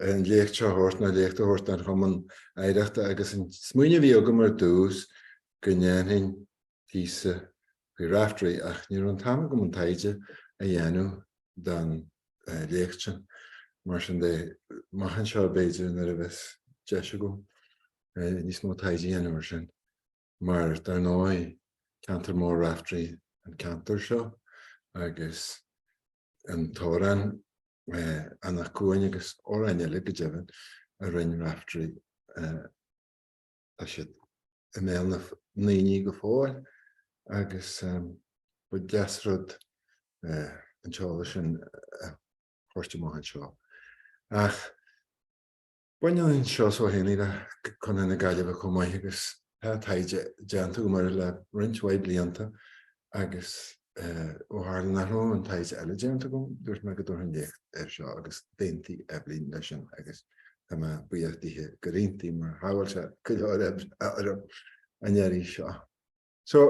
an léacht seo a thabhairt, nó léacht a thabhairt don Chumann Oidhreachta agus an smaoineamh a bhí agam ar dtús go ndéanfainn píosa faoi Raifteirí ach ní raibh an t-am agam an taighde a dhéanamh don léacht sin, mar sin de, amach anseo b'fhéidir nuair a bheas deis agam níos mó taighde a dhéanamh ar sin. mar dar ndóigh ceantar mór Raifteirí an ceantar seo agus an t-amhrán Anach Cuain agus amhráin eile go deimhin a rinn Raifteirí tá siad i mbéal na ndaoine go fóill agus ba dheas rud an t-eolas sin a thabhairt amach anseo. Ach. Baineann Seosamh Ó hÉanaí le Contae na Gaillimhe chomh maith agus tá taighde déanta agam air le roinnt mhaith blianta agus ó tharla nach raibh an taighde eile déanta agam dúirt mé go dtabharfainn léacht air seo agus d'aontaigh Eibhlín leis sin agus tá mé buíoch dithe gur aontaigh mar shábháil sé go leor oibre orm an iarraidh seo. So,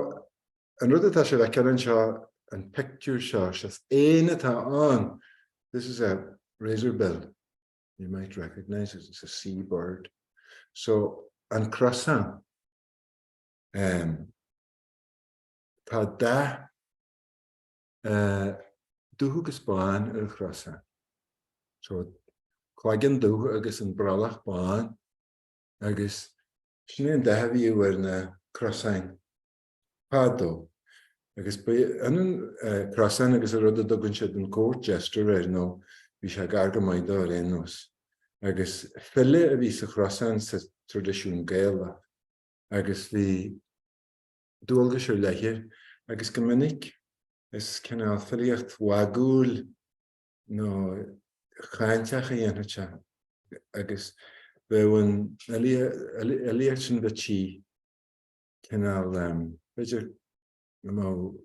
an rud atá sibh a fheiceáil anseo, an pictiúr seo, is éan atá ann! This is a razorbill. You might recognise it, it's a sea bird. So an crosán, ehm, tá dath, eh, dubh agus bán ar an chrosán. So cloigeann dubh agus an brollach bán agus sin é an dath a bhíodh ar na crosáin fadó, agus b'ionann crosán agus an rud a dtugann siad an court jester air, nó bhí sé gar go maith dó ar aon nós. Agus file a bhí sa chrosán sa traidisiún Gaelach, agus bhí dualgais ar leith air, agus go minic is cineál filíocht mhagúil nó cháinteach a dhéanfadh sé, agus bheadh an fhilíocht sin de dhíth. cineál, b'fhéidir, you know,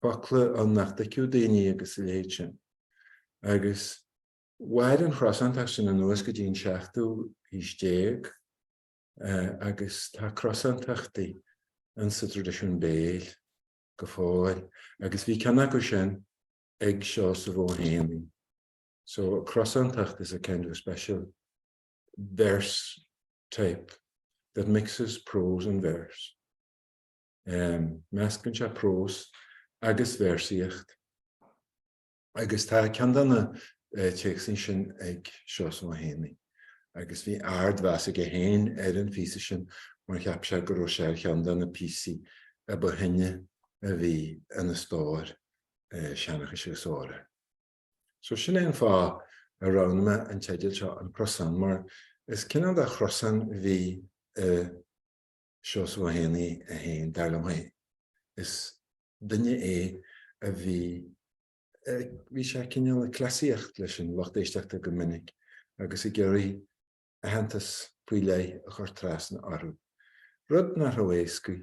focla ann nach dtuigfeadh daoine agus a leithéid sin. Agus mhair an chrosántacht sin anuas go dtí an seachtú haois déag agus tá crosántachtaí ann sa traidisiún béil go fóill agus bhí ceann acu sin ag Seosamh Ó hÉanaí. So crosántacht is a kind of a special verse type that mixes prose and verse. Meascann sé prós agus véarsaíocht agus tá ceann de na téacsa sin ag Seosamh Ó hÉanaí agus bhí ardmheas aige féin ar an phíosa sin mar cheap sé go raibh sé ar cheann de na píosaí ba shine a bhí ina stór seanchais agus So sin é an fáth a roghnaigh mé an teideal seo An Crosán mar is cineál de chrosán a bhí i Seosamh Ó hÉanaí é féin, dar liom féin. Is duine é a bhí, bhí sé cineál ag cleasaíocht leis an lucht éisteachta go minic agus ag iarraidh, aitheantas faoi leith a chur trasna orthu, rud nach raibh éasca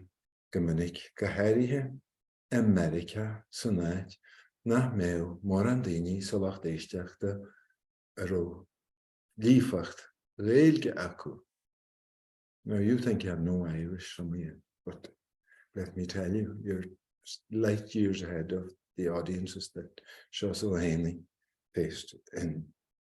go minic, go háirithe i Meiriceá, san áit nach mbeadh mórán daoine sa lucht éisteachta a raibh líofacht Ghaeilge acu. Now you think you have no Irish some of you, but let me tell you, you're light years ahead of the audiences that Seosamh Ó hÉanaí faced in.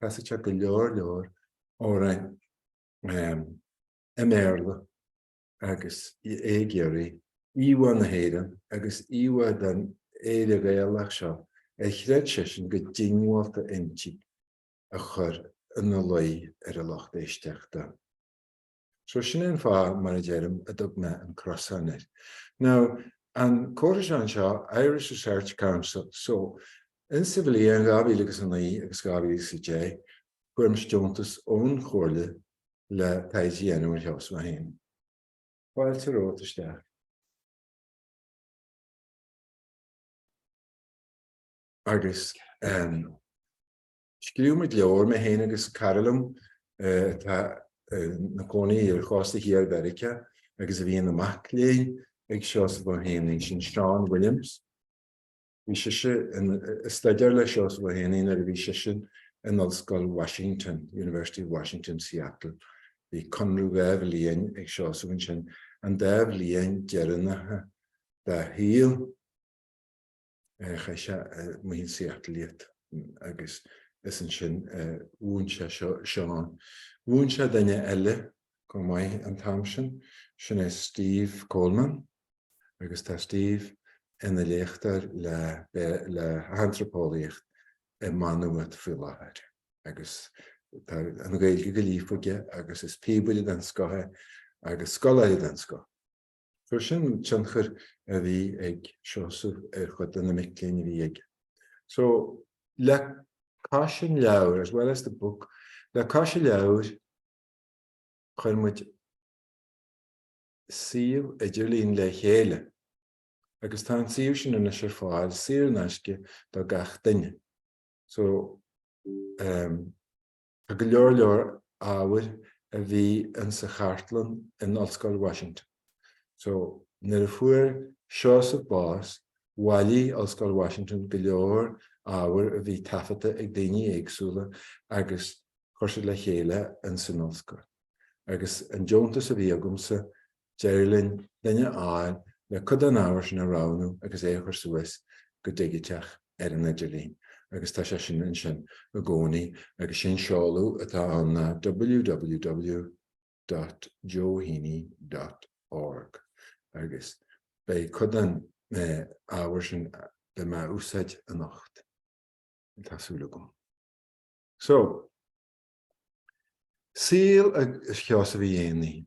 Chasfadh sé go leor leor amhrán i mBéarla agus é ag iarraidh íomhá na hÉireann agus íomhá den Éire Ghaelach seo ar chreid seisean go diongbhálta inti a chur ina luí ar a lucht éisteachta. So sin é an fáth, mar a deirim, a dtug mé an crosán air. Now, an chomhairle seo, Irish Research Council, so, insa bhliain dhá mhíle agus a naoi agus dhá mhíle agus a deich, fuaireamas deontas ón Chomhairle le taighde a dhéanamh ar Sheosamh Ó hÉanaí. Fáilte romhat isteach. Agus, ehm. Scríobh muid leabhar, mé féin agus cara liom atá ina cónaí ar chósta thiar Mheiriceá agus a bhí ina mac léinn ag Seosamh Ó hÉanaí, sin Sean Williams. Bhí sise ag staidéar le Seosamh Ó hÉanaí nuair a bhí seisean in Ollscoil Washington, University of Washington, Seattle. Bhí conradh dhá bhliain ag Seosamh ansin, an dá bhliain dheireanacha dá shaol. Chaith sé amuigh in Seattle iad agus is ansin a mhúin sé Seán. Mhúin sé duine eile chomh maith an t-am sin, sin é Steve Coleman agus tá Steve ina léachtóir le hantraipeolaíocht i Má Nuad faoi láthair agus tá an Ghaeilge go líofa aige agus is píobaire den scoth é agus scoláire den scoth. So sin an tionchar a bhí ag Seosamh ar chuid de na mic léinn a bhí aige. So, le cois an leabhair, as well as the book, le cois an leabhair, chuir muid suíomh idirlín le chéile agus tá an suíomh sin anois ar fáil saor in aisce do gach duine. So, ehm. Tá go leor leor ábhair a bhí in sa chartlann in Ollscoil Washington. So, nuair a fuair Seosamh bás, bhailigh Ollscoil Washington go leor ábhair a bhí taifeadta ag daoine éagsúla agus chuir siad le chéile in san ollscoil. Agus an deontas a bhí agamsa, D'éirigh linn duine a fháil le cuid den ábhar sin a roghnú agus é a chur suas go digiteach ar an idirlíon agus tá sé sin ansin i gcónaí agus sé an seoladh atá ann ná www.joeheaney.org agus beidh cuid den ábhar sin le mé a úsáid anocht, tá súil agam. So. Saol agus Sheosaimh Uí Éanaí.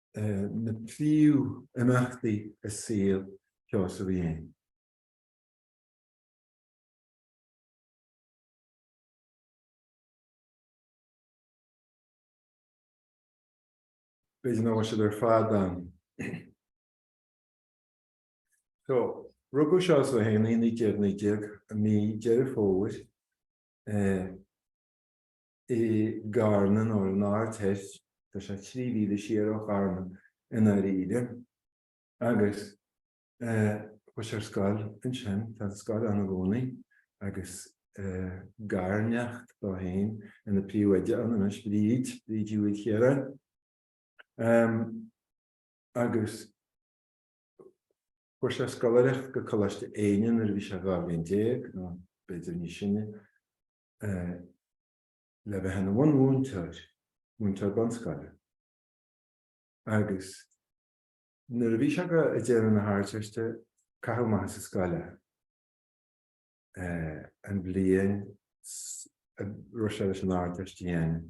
na príomh-imeachtaí i saol Sheosaimh Uí Éanaí. B'fhéidir nach bhfuil siad ar fad ann. So, rugadh Seosamh Ó hÉanaí i 1919, i mí Deireadh Fómhair. i gCarna nó ar an Aird Thoir, tá sé trí mhíle siar ó Charna i ndáiríre, agus chuaigh sé ar scoil ansin, tá an scoil ann i gcónaí agus garneacht dó féin ina príomhoide ann anois, Bríd, Bríd Ní Mhaoilchiaráin. Agus fuair sé scoláireacht go Coláiste Éinde nuair a bhí sé dhá bhliain déag nó b'fhéidir níos sine. eh, le bheith ina bhunmhúinteoir, múinteoir bunscoile. Agus nuair a bhí sé go, ag déanamh na hArdteiste, caitheadh amach as an scoil é, eh, an bhliain a raibh sé leis an Ardteist a dhéanamh.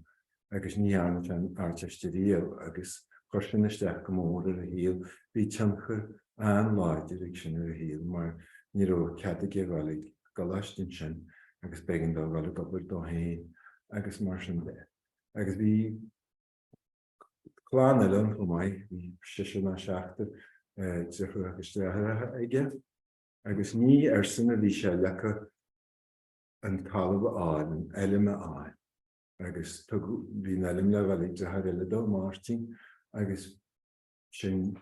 agus ní dhearna sé an Ardteist ariamh agus chuir sin isteach go mór ar a shaol, bhí tionchar an-láidir ag sin ar a shaol mar ní raibh cead aige a dhul ag an gcoláiste ansin agus b'éigean dó a dhul ag obair dó féin agus mar sin de. Agus bhí clann eile ann chomh maith, bhí seisear nó seachtar deartháir agus deartháireacha aige agus ní airsean a bhí sé leagtha an talamh a fháil, an fheilm a fháil. agus tugadh, bhí an fheilm le dhul ag deartháir eile dó, Máirtín, agus sin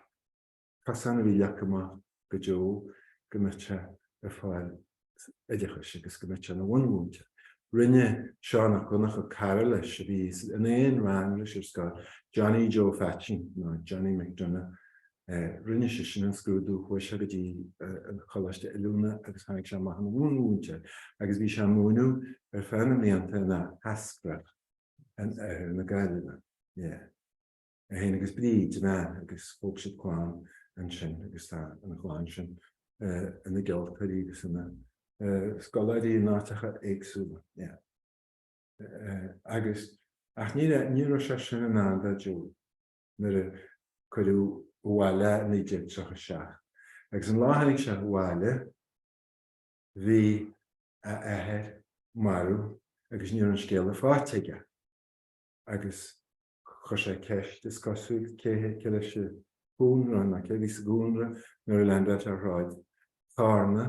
cosán a bhí leagtha amach do Joe go mbeadh sé ag fáil oideachais agus go mbeadh sé ina bhunmhúinteoir. Rinne Seán 'ac Dhonncha, cara leis a bhí in aon rang leis ar scoil, Johnny Joe Pheaitsín, nó Johnny McDonagh, Rinne sé sin an scrúdú, chuaigh sé go dtí an coláiste oiliúna agus tháinig sé amach ina bhunmhúinteoir agus bhí sé ag múineadh ar feadh na mblianta in Áth Eascrach in oirthear na Gaillimhe. Yeah. É féin agus Bríd, a bhean, agus thóg siad clann ansin agus tá an chlann sin ina gceoltóirí agus ina scoláirí in áiteacha éagsúla. Yeah. Agus, ach ní raibh sé sin i ndán do Joe. nuair a cuireadh abhaile i 1937. Agus an lá a tháinig sé abhaile, bhí a athair marbh agus ní raibh an scéala faighte aige. Agus chuir sé ceist, is cosúil, cé leis an chónra, nó cé a bhí sa gcónra nuair a leaindeáil sé ar shráid Charna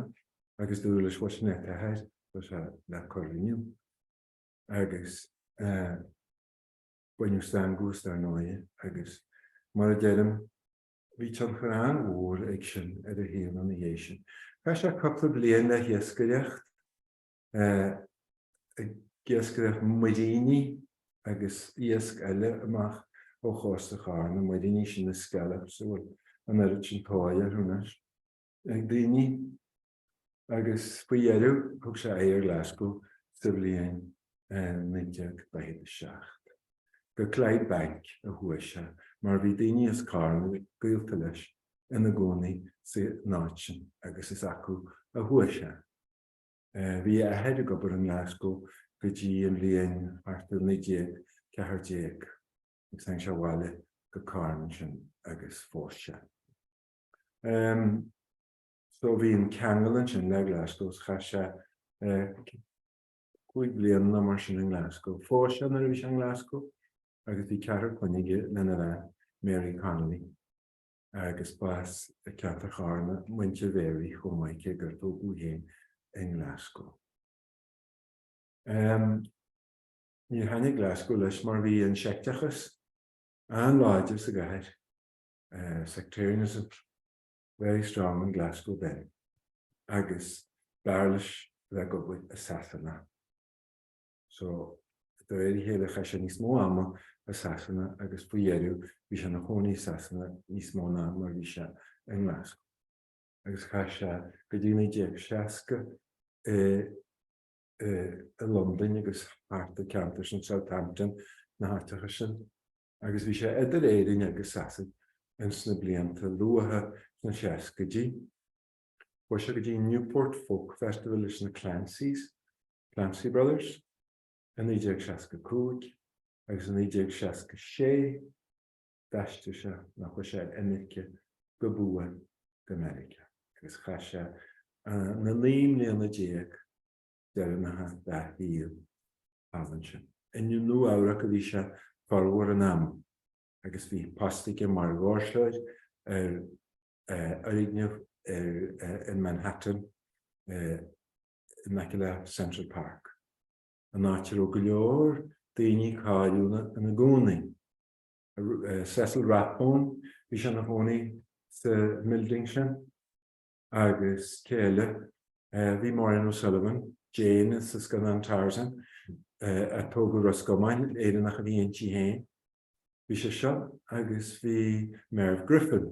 agus dúradh leis, bhuel, sin é t'athair, tá sé le cur inniu. Agus. Baineadh stangadh as dar ndóigh, agus mar a deirim, bhí tionchar an-mhór ag sin ar a shaol ina dhiaidh sin. Chaith sé cúpla bliain le hiascaireacht, ag iascaireacht muiríní agus iasc eile amach ó chósta Charna, muiríní sin na scallops a bhfuil an oiread sin tóir orthu anois ag daoine. agus faoi dheireadh thug sé aghaidh ar Ghlaschú sa bhliain 1947. Go Clydebank a chuaigh sé mar bhí daoine as Carna, gaolta leis, ina gcónaí san áit sin agus is acu a chuaigh sé. Bhí a athair ag obair i nGlaschú go dtí an bhliain thart ar 1914 agus tháinig sé abhaile go Carna ansin agus phós sé. So bhí an ceangal ansin le Glasgow, so chaith sé cúig bliana nó mar sin i nGlasgow. Phós sé nuair a bhí sé i nGlasgow agus bhí ceathrar clainne aige lena bhean, Mary Connolly, agus b'as ceantar Charna muintir Mhary chomh maith cé gur tógadh í féin i nGlasgow. Níor thaitnigh Glasgow leis mar bhí an seicteachas an-láidir sa gcathair, sectarianism. very strong in Glasgow then, agus b'fhearr leis a bheith ag obair i Sasana. So, de réir a chéile chaith sé níos mó ama i Sasana agus faoi dheireadh bhí sé ina chónaí i Sasana níos mó ná mar bhí sé i nGlasgow. Agus chaith sé go dtí 1960 i i Londain agus thart i ceantair sin Southampton, na háiteacha sin. agus bhí sé idir Éirinn agus Sasain ins na blianta luatha sna seascaidí. Chuaigh sé go dtí Newport Folk Festival leis na Clancys, Clancy Brothers, i 1965 agus i 1966 d'aistrigh sé, nó chuaigh sé ar imirce go buan, go Meiriceá agus chaith sé na naoi mbliana déag, deireanacha dá shaol thall ansin. I Nua-Eabhrac a bhí sé formhór an ama agus bhí post aige mar dhoirseoir ar fhoirgneamh in Manhattan in aice le Central Park, an áit a raibh go leor daoine cáiliúla ina gcónaí. Cecil Rathbone, bhí sé ina chónaí sa mbuilding sin. agus cé eile, bhí Maureen O'Sullivan, Jane sa scannán Tarzan, a tógadh i Ros gComáin, Éireannach a bhí inti féin, bhí sise agus bhí Merv Griffin,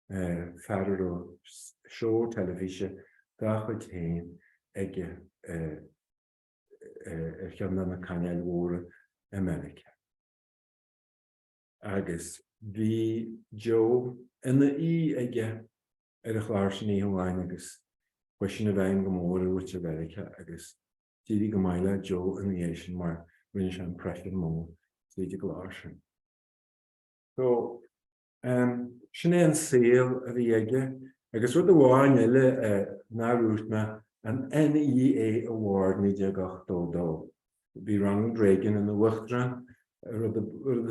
fear a raibh seó teilifíse dá chuid féin aige ar cheann de na cainéil mhóra i Meiriceá. agus bhí Joe ina aoi aige ar a chlár sin oíche amháin agus chuaigh sin i bhfeidhm go mór ar mhuintir Mheiriceá agus d'éirigh go maith le Joe ina dhiaidh sin mar rinne sé impression mór tríd an gclár sin. So, ehm, sin é an saol a bhí aige agus rud amháin eile nár dhúirt mé, an NEA Award 1982, Bhí Ronald Reagan ina uachtarán, rud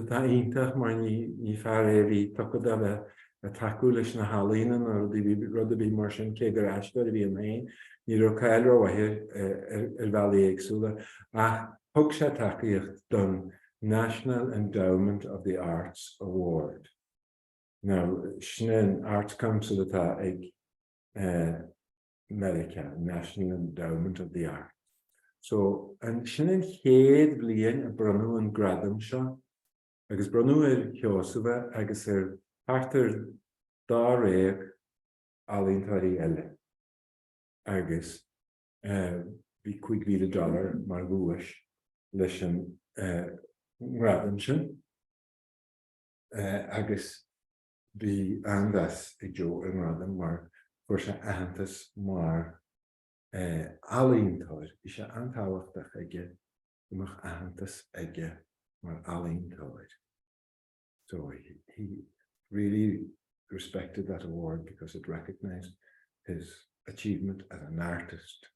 atá iontach mar ní fear é a bhí tugtha do a bheith ag tacú leis na healaíona nó rud ar bith mar sin, cé gur aisteoir a bhí ann féin. Ní raibh cáil rómhaith air ar bhealaí éagsúla ach thug sé tacaíocht don National Endowment of the Arts Award, nó sin é an Arts Council atá ag. Meiriceá, National Endowment of the Arts. So, ansin an chéad bhliain a bronnadh an gradam seo agus bronnadh ar Sheosamh é agus ar thart ar dáréag ealaíontóirí eile agus bhí cúig mhíle dollar mar dhuais leis an ngradam sin agus. Bhí an-mheas ag Joe ar an ngradam mar fuair sé aitheantas mar ealaíontóir. Bhí sé an-tábhachtach aige go mbeadh aitheantas aige mar ealaíontóir so he really respected that award because it recognised his achievement as an artist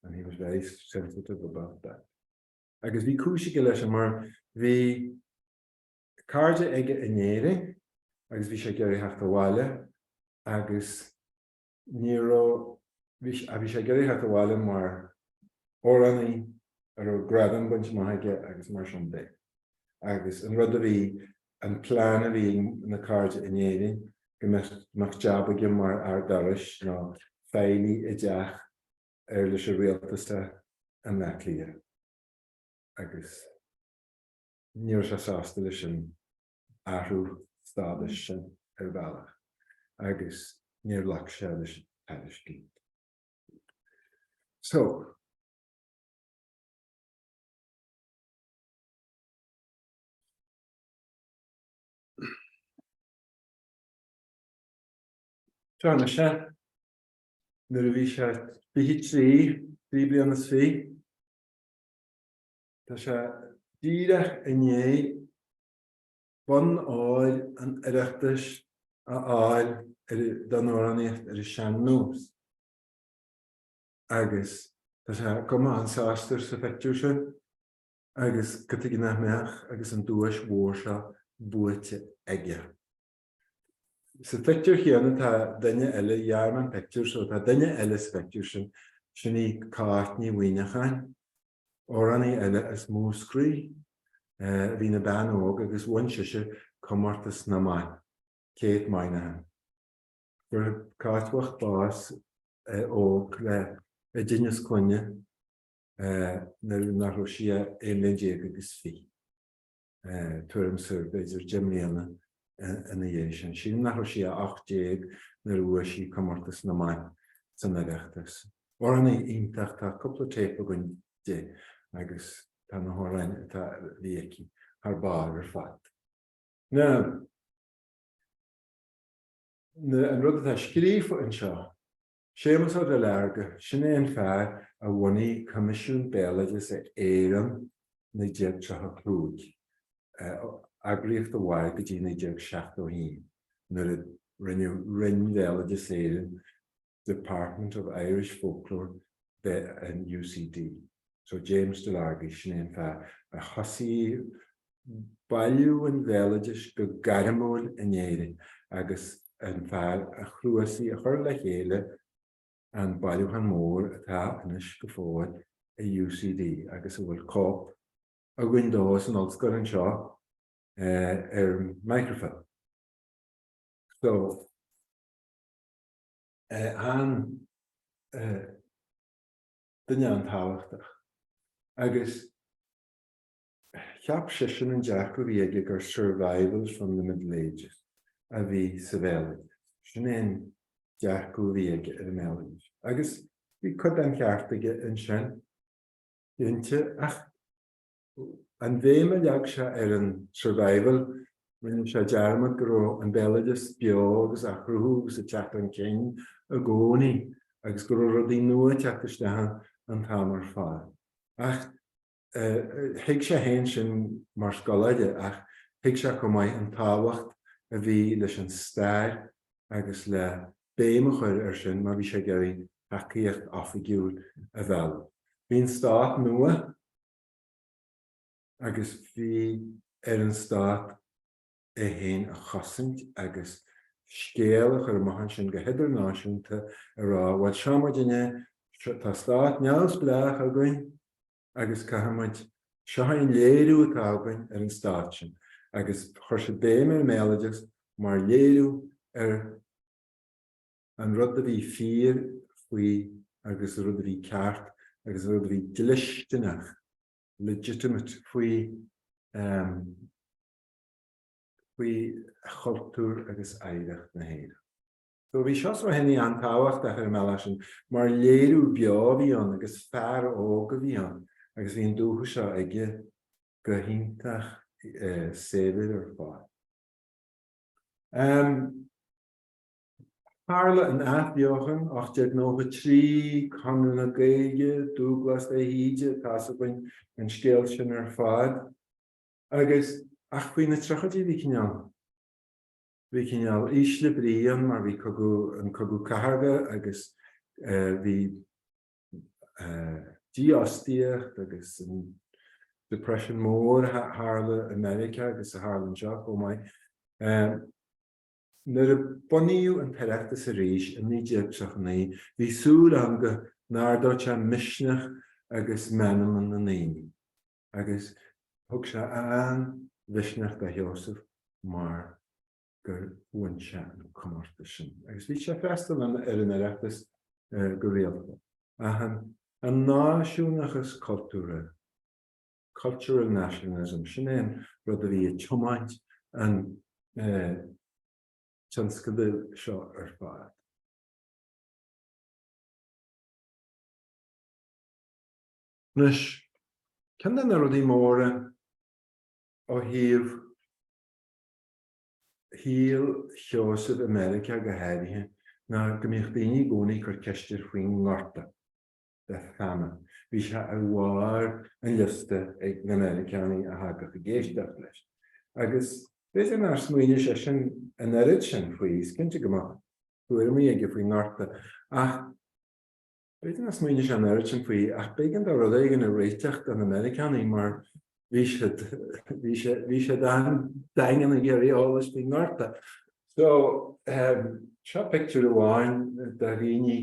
and he was very sensitive about that. Agus bhí cúis aige leis sin mar bhí. cairde aige in Éirinn agus bhí sé ag iarraidh theacht abhaile agus ní raibh, bhí, ach bhí sé ag iarraidh theacht abhaile mar amhránaí a raibh gradam bainte amach aige agus mar sin de. Agus an rud a bhí, an plean a bhí ag na cairde in Éirinn go mbeadh, mbeadh jab aige mar fhear dorais nó feighlí i dTeach Uirlise Rialtas i mBleá Cliath. Agus. ní raibh sé sásta leis an athrú stádais sin ar bhealach agus níor ghlac sé leis an tairiscint. So. Seo Seán nuair a bhí sé bhí trí, trí bliana is fi. Tá sé díreach i ndiaidh Bonn Óir an Oireachtais a fháil don amhránaíocht ar an sean-nós agus tá sé cuma an-sásta sa phictiúr sin agus cad chuige nach mbeadh agus an duais mhór seo buaite aige. Sa phictiúr chéanna tá duine eile, ghearr mé an pictiúr so tá duine eile sa phictiúr sin, sin í Cáit Ní Mhuimhneacháin, amhránaí eile as Múscraí, bhí ina bean óg agus bhain sise comórtas na mban, Kate Moynihan. Fuair Cáit bhocht bás óg le i dtinneas clainne nuair nach raibh sí ach aon bhliain déag agus fiche. tuairim is, b'fhéidir deich mbliana ina dhiaidh sin. Sílim nach raibh sí ach 18 nuair a bhuaigh sí comórtas na mban san Oireachtas. Amhránaí iontach, tá cúpla téip againn di agus tá na hamhráin atá, a bhí aici thar barr ar fad. Now, an rud atá scríofa anseo, Séamus Ó Duilearga, sin é an fear a bhunaigh Coimisiún Béaloideasa Éireann 1935, eagraíocht a mhair go dtí 1971 nuair a rinneadh Roinn Bhéaloideas Éireann, Department of Irish Folklore, de in UCD. So James Delargy, sin é an fear a thosaigh í. bailiú an bhéaloidis go gairmiúil in Éirinn agus an fear a chnuasaigh, a chuir le chéile an bailiúchán mór atá anois go fóill i UCD agus a bhfuil cóip againn de san ollscoil anseo ar microfilm. So, duine an-tábhachtach agus. Cheap seisean an dearcadh a bhí aige gur 'survivals from the middle ages' a bhí sa bhéaloideas, sin é an dearcadh a bhí aige ar an mbéaloideas. Agus bhí cuid den cheart aige ansin, cinnte, ach an bhéim a leag sé ar an 'survival', rinne sé dearmad go raibh an béaloideas beo agus á chruthú agus ag teacht chun cinn i gcónaí agus go raibh rudaí nua ag teacht isteach an t-am ar fad. Ach. Thuig sé fhéin sin mar scoláire ach thuig sé chomh maith an tábhacht a bhí leis an stair agus le béim a chur air sin má bhí sé ag iarraidh tacaíocht oifigiúil a mhealladh. Bhí an stát nua agus bhí ar an stát é féin a chosaint agus scéal a chur amach ansin go hidirnáisiúnta ag rá, bhuel, seo muid inniu, tá stát neamhspleách againn agus caithfidh muid, seo é an léiriú atá againn ar an stát sin. Agus chuir sé béim ar an mbéaloideas mar léiriú ar an rud a bhí fíor faoi agus an rud a bhí ceart agus an rud a bhí dlisteanach, legitimate, faoi. faoi chultúr agus oidhreacht na hÉireann. So bhí Seosamh Ó Éinniú an-tábhachtach ar an mbealach sin mar léiriú beo a bhí ann agus fear óg a bhí ann agus bhí an dúchas seo aige go hiontach saibhir ar fad. Tharla an athbheochan, 1893, Conradh na Gaeilge, Dúbhglás de hÍde, tá a fhios againn an scéal sin ar fad. Agus, ach faoi na triochaidí bhí cineál, bhí cineál ísle brí ann mar bhí an Cogadh Cathartha agus eh, bhí eh, dífhostaíocht agus an Depression mór a tharla i Meiriceá agus a tharla anseo chomh maith. Eh, nuair a bunaíodh an tOireachtas arís i 1939 bhí súil ann go n-ardódh sé misneach agus meanma na ndaoine. agus thug sé an-mhisneach do Sheosamh mar gur bhain sé an comórtas sin agus bhí sé ag freastal ar an Oireachtas go rialta. An náisiúnachas cultúrtha, cultural nationalism, sin é an rud a bhí ag tiomáint an tionscadail seo ar fad. Anois, ceann de na rudaí móra ó thaobh shaol Sheosaimh i Meiriceá go háirithe ná go mbíodh daoine i gcónaí ag cur ceist air faoin ngorta, the famine. Bhí sé ar bharr an liosta ag na Meiriceánaigh a thagadh ag éisteacht leis. Agus b'fhéidir nár smaoinigh seisean an oiread sin faoi, is cinnte go mbeadh tuairimí aige faoin ngorta, ach, B'fhéidir nár smaoinigh sé an oiread sin faoi, ach b'éigean dó rud éigin a réiteach do na Meiriceánaigh mar bhí, bhí siad an-daingean ag iarraidh eolais faoin ngorta. So, seo pictiúr amháin de dhaoine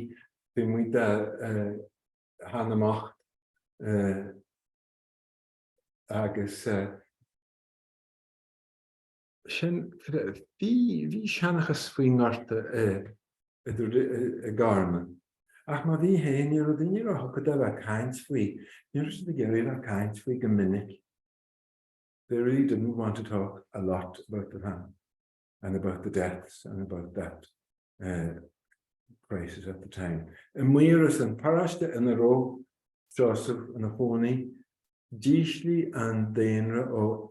taobh amuigh de Theach na mBocht agus. sin, bhí seanchas faoin ngorta i gCarna, ach má bhí féin, ní raibh daoine róthugtha do bheith ag caint faoi, ní raibh siad ag iarraidh a bheith ag caint faoi go minic, they really didn't want to talk a lot about the famine and about the deaths and about that. crisis at the time. I Maíros, an paróiste ina raibh Seosamh ina chónaí, d'ísligh an daonra ó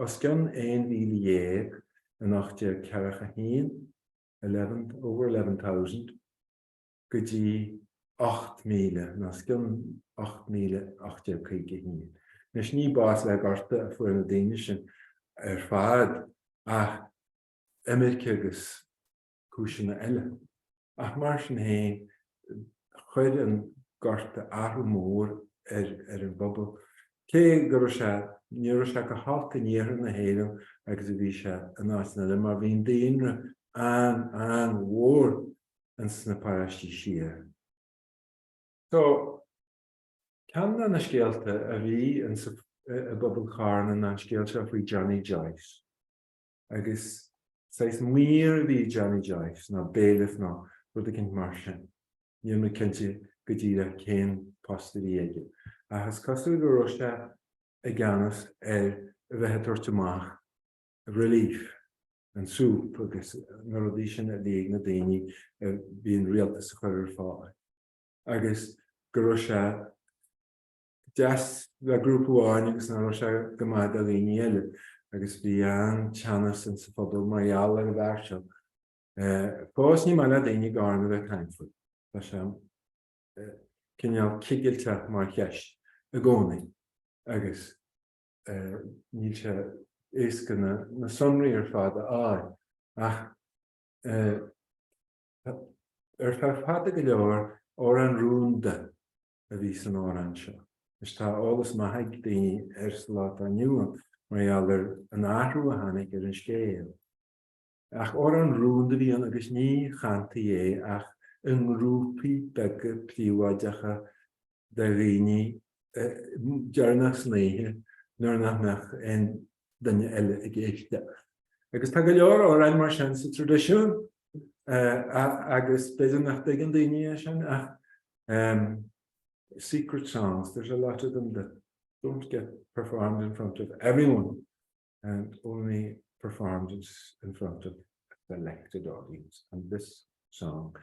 os cionn 11,000 in 1841, eleven, over eleven thousand, go dtí 8,000, ná os cionn 8,000 in 1851. Anois, ní bás le gorta a fuair na daoine sin ar fad, ach imirce agus cúiseanna eile, ach mar sin féin, chuir an gorta athrú mór ar an bpobal, cé go raibh sé, ní raibh sé chomh holc in iarthar na hÉireann agus a bhí sé in áiteanna eile, mar bhí an daonra an-an-mhór in sna paráistí siar. So, ceann de na scéalta a bhí i bpobal Charna ná an scéal seo faoi Johnny Joyce. agus saghas maor a bhí i Johnny Joyce, nó bailiff nó rud eicínt mar sin. Níl mé cinnte go díreach cén post a bhí aige, ach is cosúil go raibh sé i gceannas ar a bheith ag tabhairt amach rilíf, an súp agus na rudaí sin a bhí ag na daoine a bhí an rialtas ag cur ar fáil, agus go raibh sé. deas le grúpa amháin agus nach raibh sé go maith do dhaoine eile agus bhí an-teannas in sa phobal mar gheall ar an bhfear seo. Fós ní maith le daoine i gCarna bheith ag caint faoi. Tá sé cineál cigilteach mar cheist i gcónaí agus níl sé éasca na sonraí ar fad a fháil ach ar feadh fada go leor, amhrán rúnda. a bhí san amhrán seo. Anois tá eolas maith ag daoine air sa lá atá inniu ann mar gheall ar an athrú a tháinig ar an scéal. Ach amhrán rúnda a bhí ann agus ní chantaí é ach i ngrúpaí beaga príobháideacha de dhaoine deireanach san oíche nuair nach mbeadh aon duine eile ag éisteacht. Agus tá go leor amhráin mar sin sa traidisiún agus b'fhéidir nach dtuigeann daoine é sin ach Umm, secret songs, there's a lot of them that don't get performed in front of everyone and only performed in in front of a selected audience and this song,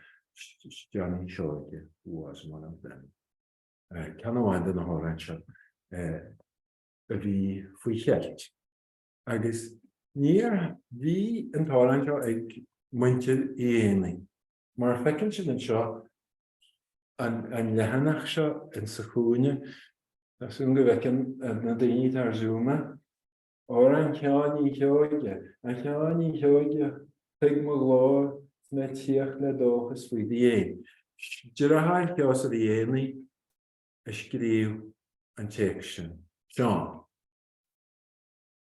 Johnny Seoige, was one of them. Ceann amháin de na hamhráin seo a bhí faoi cheilt agus níor, bhí an t-amhrán seo ag muintir Uí Éanaigh Mar a fheiceann sibh anseo, an leathanach seo in sa chúinne, tá súil go bhfeiceann na daoine atá ar Zoom é, Amhrán Sheáin Uí Sheoige, A Sheáin Uí Sheoige, tuig mo ghlór, 's mé 'tíocht le dóchas faoi do dhéin. Deartháir Sheosaimh Uí Éanaí a scríobh an téacs sin, Seán,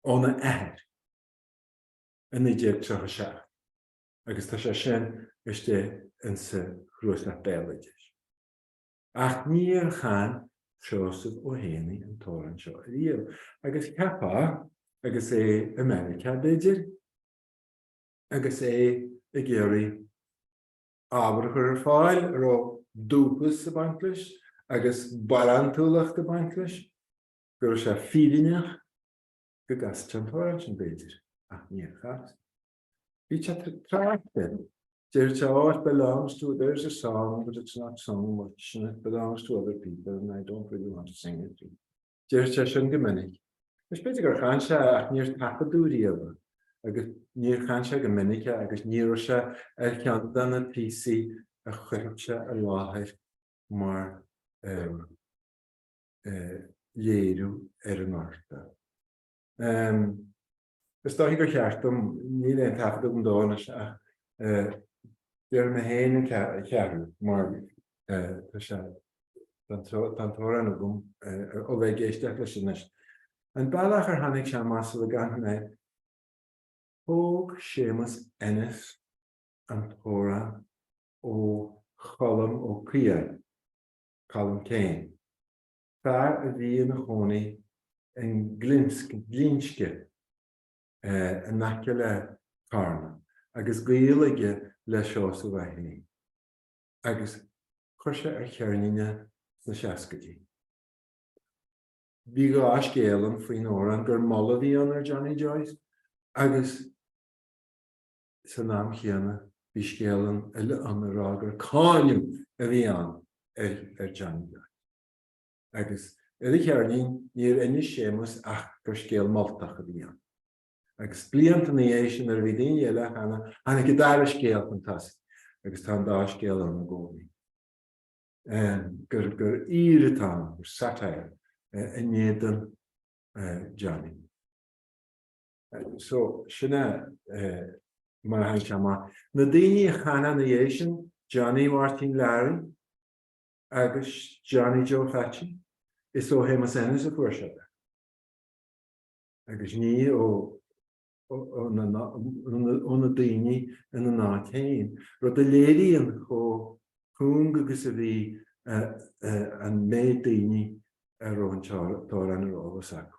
óna athair, i 1937. agus tá sé sin istigh insa Chnuasach Béaloidis. Ach níor chan Seosamh Ó hÉanaí an t-amhrán seo ariamh, agus cheapfá, agus é i Meiriceá, b'fhéidir, agus é ag iarraidh ábhar a chur ar fáil a raibh dúchas ag baint leis agus barántúlacht ag baint leis, go raibh sé feiliúnach go gcasfadh sé an t-amhrán sin, b'fhéidir, ach níor chas. Bhí sé ag trácht air. Deir sé, Oh, it belongs to, there's a song, but it's not sung much and it belongs to other people and I don't really want to sing it. Deireadh sé sin go minic. Is b'fhéidir gur chan sé é ach níor taifeadadh riamh é agus níor chan sé go minic é agus ní raibh sé ar cheann de na píosaí a chuirfeadh sé i láthair mar léiriú ar an oidhreacht. Is dóiche gur cheart dom, níl aon taifead agam dó anois ach déarfaidh mé féin an cheathrú mar tá sé, tá an t-amhrán agam ó bheith ag éisteacht leis anois. An bealach ar tháinig sé amach sula gcanfaidh mé, thóg Séamus Ennis an t-amhrán ó Cholm Ó Caodháin, Colm Keane. fear a bhí ina chónaí i nGlinsce, in aice le Carna agus gaol aige le Seosamh Ó hÉanaí, agus chuir sé ar cheirnín é sna seascaidí. Bhí dhá scéal ann faoin amhrán, gur moladh a bhí ann ar Johnny Joyce agus. san am chéanna bhí scéal ann eile ann ag rá gur cáineadh a bhí ann ar Johnny Joyce. Agus ar a cheirnín níor inis Séamus ach gur scéal moltach a bhí ann. Agus blianta ina dhiaidh sin nuair a bhí daoine eile á chanadh, tháinig an dara scéal chun tosaigh agus tá an dá scéal ann i gcónaí, gur aoir atá ann, gur satire in éadan Johnny. So, sin é, mar a tháinig sé amach. Na daoine a chan ina dhiaidh sin, Johnny Mháirtín Learaí agus Johnny Joe Pheaitín, is ó Shéamus Ennis a fuair siad é, agus ní ó na daoine ina n-áit féin, rud a léiríonn chomh cúng agus a bhí an méid daoine a raibh an t-amhrán ar eolas acu.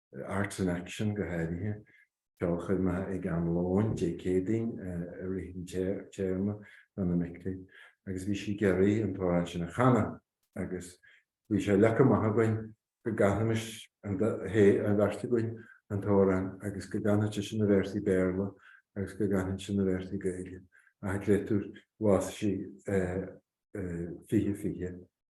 Arts in Action go háirithe, ceolchoirmeacha ag am lóin Dé Céadaoin i rith an téarma do na mic léinn agus bhí sí ag iarraidh an t-amhrán sin a chanadh agus bhí sé leagtha amach againn go gcanfaimis an bheirt againn an t-amhrán agus go gcanfadh sise na véarsaí Béarla agus go gcanfainnse na véarsaí Gaeilge ach an créatúr bhásaigh sí fiche fiche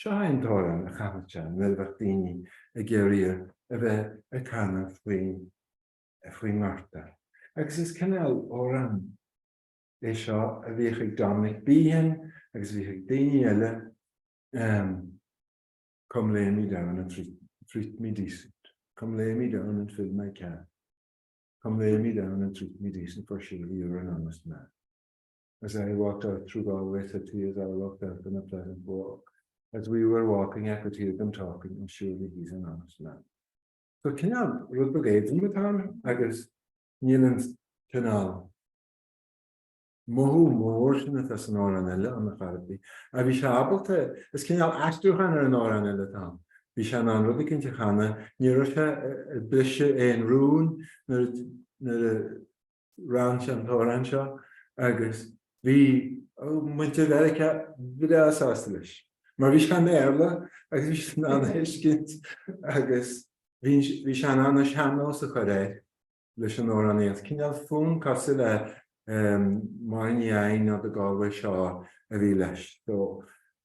Seo é an t-amhrán a chanadh sé nuair a bheadh daoine ag iarraidh a bheith ag canadh faoin nGorta, agus is cineál amhrán é seo a bhíodh ag Dominic Behan agus a bhíodh ag daoine eile, Come lay me down and treat me decent, come lay me down and fill my can, come lay me down and treat me decent for surely you're an honest man. as I walked out through Galway city as I walked out on a pleasant walk, as we were walking I could hear them talking and surely he's an honest man. So cineál rud beag éadrom atá ann agus níl an cineál mothú mór sin atá san amhrán eile ann ar chor ar bith. Ach bhí sé ábalta, is cineál aistriúchán ar an amhrán eile atá ann. Bhí sé in ann rud éicint a chanadh, ní raibh sé ag briseadh aon rún nuair a chan sé an t-amhrán seo agus bhí muintir Mheiriceá breá sásta leis mar bhí sé i mBéarla agus bhí siad in ann é a thuiscint agus bhí sé in ann an sean-nós a chur air leis an amhránaíocht. Cineál fonn cosúil le Máire Ní Eidhin nó The Galway Shawl a bhí leis.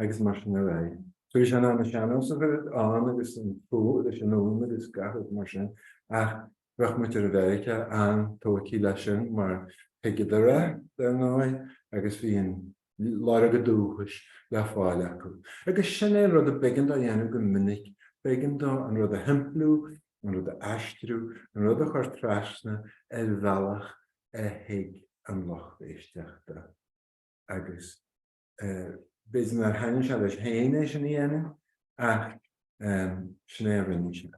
agus mar sin ar aghaidh. Tar éis an ama sean-nós a chuirfeadh ann agus an fuath leis an Uain agus gach rud mar sin, ach bheadh muintir Mheiriceá an-tógtha leis sin mar thuigeadar é, dar ndóigh, agus bhí an lorg an dúchais le fáil acu. Agus sin é an rud a b'éigean dó a dhéanamh go minic, b'éigean dó an rud a shimpliú, an rud a aistriú, an rud a chur trasna ar bhealach a thuig an lucht éisteachta agus, b'fhéidir nár thaitnigh sé leis féin é sin a dhéanamh ach sin é a rinne sé.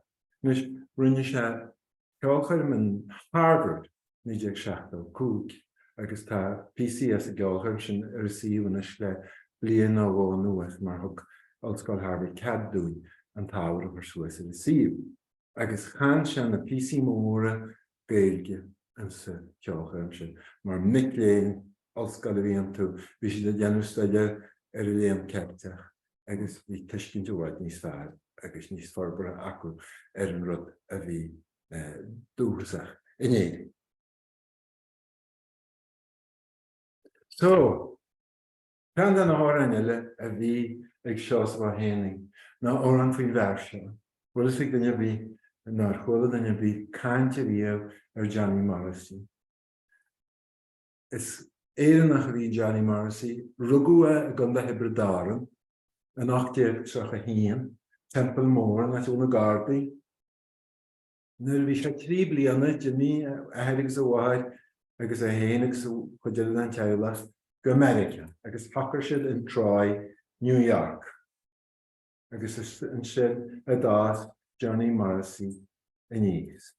Anois, rinne sé ceolchoirm in Harvard 1975 agus tá píosaí as an gceolchoirm sin ar an suíomh anois le bliain nó dhó anuas mar thug Ollscoil Harvard cead dúinn an t-ábhar a chur suas ar an suíomh agus chan sé na píosaí móra Gaeilge sa cheolchoirm sin. Mar mic léinn ollscoile a bhí iontu, bhí siad ag déanamh staidéir ar an Léann Ceilteach agus bhí tuiscint i bhfad níos fearr agus níos forbartha acu ar an rud a bhí dúchasach in Éirinn. So, Ceann de na hamhráin eile a bhí ag Seosamh Ó hÉanaí ná amhrán faoin bhfear seo, bhfuil a fhios ag duine ar bith nó ar chuala duine ar bith caint ariamh ar Johnny Morrissey. Is Éireannach a bhí Johnny Morrissey, rugadh é i gContae Thiobraid Árann in 1831, Teampall Mór, an áit a bhfuil na Gardaí, Nuair a bhí sé trí bliana, d'imigh a athair agus a mháthair agus é féin agus cuid eile den teaghlach go Meiriceá agus shocair siad in Troy, New York agus is ansin a d'fhás Johnny Morrissey aníos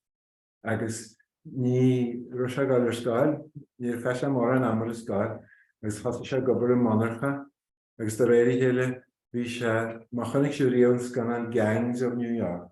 agus ní raibh sé ag dul ar scoil, níor chaith sé mórán ama ar scoil agus thosaigh sé ag obair i monarcha agus de réir a chéile bhí sé, má chonaic sibh riamh an scannán Gangs of New York,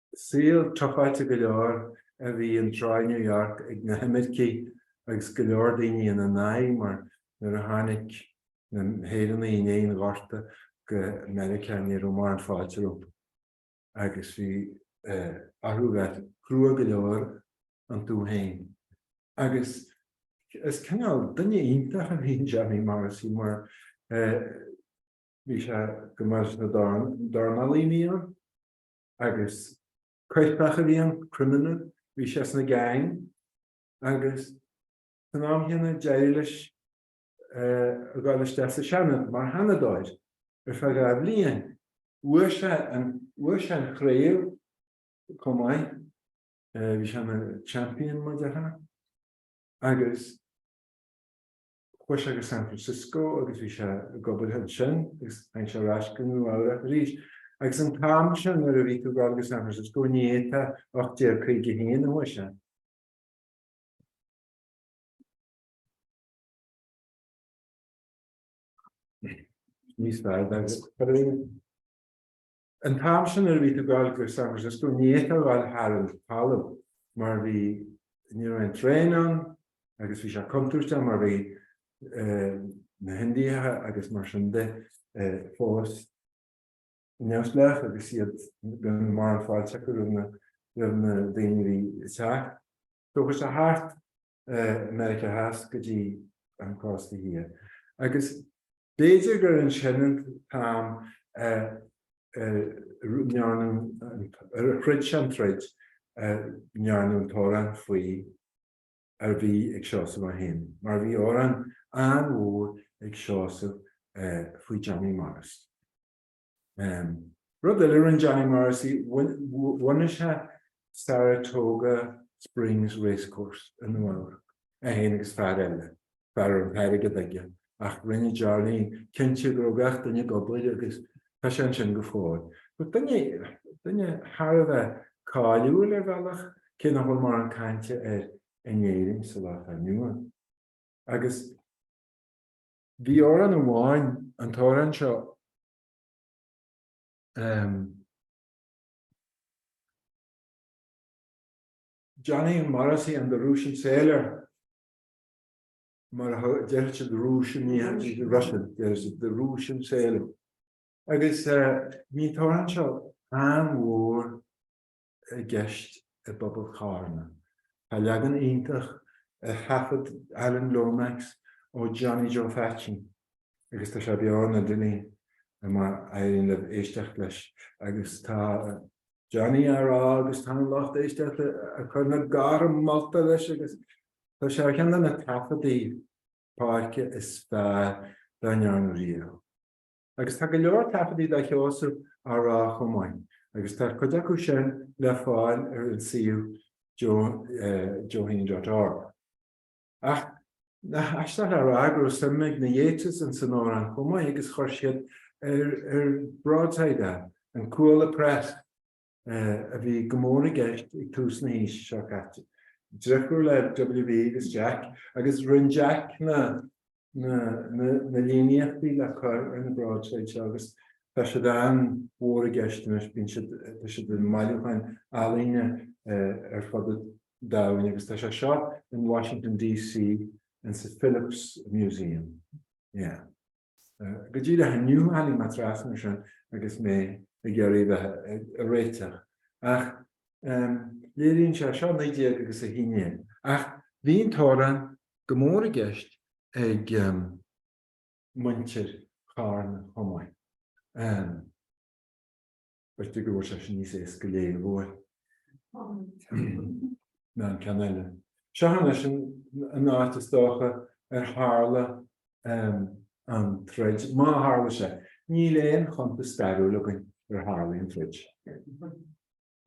Saol tufáilte go leor a bhí in Troy, New York ag na himircigh agus go leor daoine ina n-aghaidh mar nuair a tháinig na hÉireannaigh i ndiaidh an Ghorta go Meiriceá ní raibh mórán fáilte rompu agus bhí orthu bheith crua go leor iontu féin agus is cineál duine iontach a bhí in Johnny Morrissey mar bhí sé go maith leis na dornálaí a bhí ann. agus coirpeach a bhí ann, criminal, bhí sé sna gang agus san am chéanna d'éirigh leis a dhul isteach sa Seanad mar Sheanadóir ar feadh dhá bhliain. Bhuaigh sé an, bhuaigh sé an chraobh chomh maith, bhí sé ina champion, mar a déarfá, agus. Chuaigh sé go San Francisco agus bhí sé ag obair ansin agus tháinig sé ar ais go Nua Eabhrach arís. Agus an t-am sin nuair a bhí tú ag gabháil go San Francisco, ní fhéadfá, 1851 a chuaigh sé, níos fearr, dar liom. An t-am sin nuair a bhí tú ag gabháil go San Francisco ní fhéadfá ghabháil thar an talamh mar bhí, ní raibh aon traein ann agus bhí sé contúirteach mar bhí na hIndiacha agus mar sin de fós neamhspleách agus iad gan mórán fáilte acu roimh na daoine a bhí ag teacht. So chuaigh sé thart Meiriceá Theas go dtí an cósta thiar, agus b'fhéidir gur ansin an t-am ar throid sé an troid a ndearnadh an t-amhrán faoi a bhí ag Seosamh Ó hÉanaí, mar bhí amhrán an-mhór ag Seosamh faoi Johnny Morrissey. Rud eile a rinne Johnny Morrissey, bhunaigh sé Saratoga Springs Racecourse i Nua-Eabhrac, é féin agus fear eile, fear a raibh an t-airgead aige, ach rinne Johnny cinnte go raibh gach duine ag obair agus tá sé ansin go fóill. Duine, duine thar a bheith cáiliúil ar bhealach, cé nach bhfuil mórán cainte air in Éirinn sa lá atá inniu ann. Agus. Bhí amhrán amháin, an t-amhrán seo, em. Johnny Morrissey and the Russian Sailor, mar a thug, déarfaidh siad the Russian, the Russian, déarfaidh siad the Russian Sailor. Agus eh, bhí an t-amhrán seo an-mhór. i gceist i bpobal Charna. Tá leagan iontach ar thaifead Alan Lomax ó Johnny Joe Pheaitsín agus tá sé beo ar an idirlíon má éiríonn libh éisteacht leis agus tá Johnny á rá agus tá an lucht éisteachta ag cur na gártha molta leis agus tá sé ar cheann de na taifeadtaí páirce is fearr dá ndearnadh riamh. Agus tá go leor taifeadtaí de Sheosamh á rá chomh maith, agus tá cuid acu sin le fáil ar an suíomh joeheaney.org. Ach nach aisteach a rá go raibh suim ag na Yeats' ins an amhrán chomh maith agus chuir siad ar broadside é, an Cuala Press. a bhí go mór i gceist ag tús na haoise seo caite, driofúr le W.B agus Jack, agus rinne Jack na líníochtaí le cur ar na broadsides seo agus tá siad an-mhór i gceist anois, bíonn siad, tá siad i mbailiúcháin ealaíne ar fud an domhain agus tá sé seo in Washington DC insa Phillips Museum. Yeah. Go dtí go leath inniu tháinig mé trasna air sin agus mé ag iarraidh a bheith ag réiteach ach léiríonn sé, sea, 19 agus 1 go raibh an t-amhrán go mór i gceist ag muintir Charna chomh maith. B'fhéidir go bhfuil sé sin níos éasca a léamh uaidh ná an ceann eile. Seachas sin an áit, is dócha, ar tharla an troid, má tharla sé. Níl aon chuntas stairiúil againn ar tharla an troid.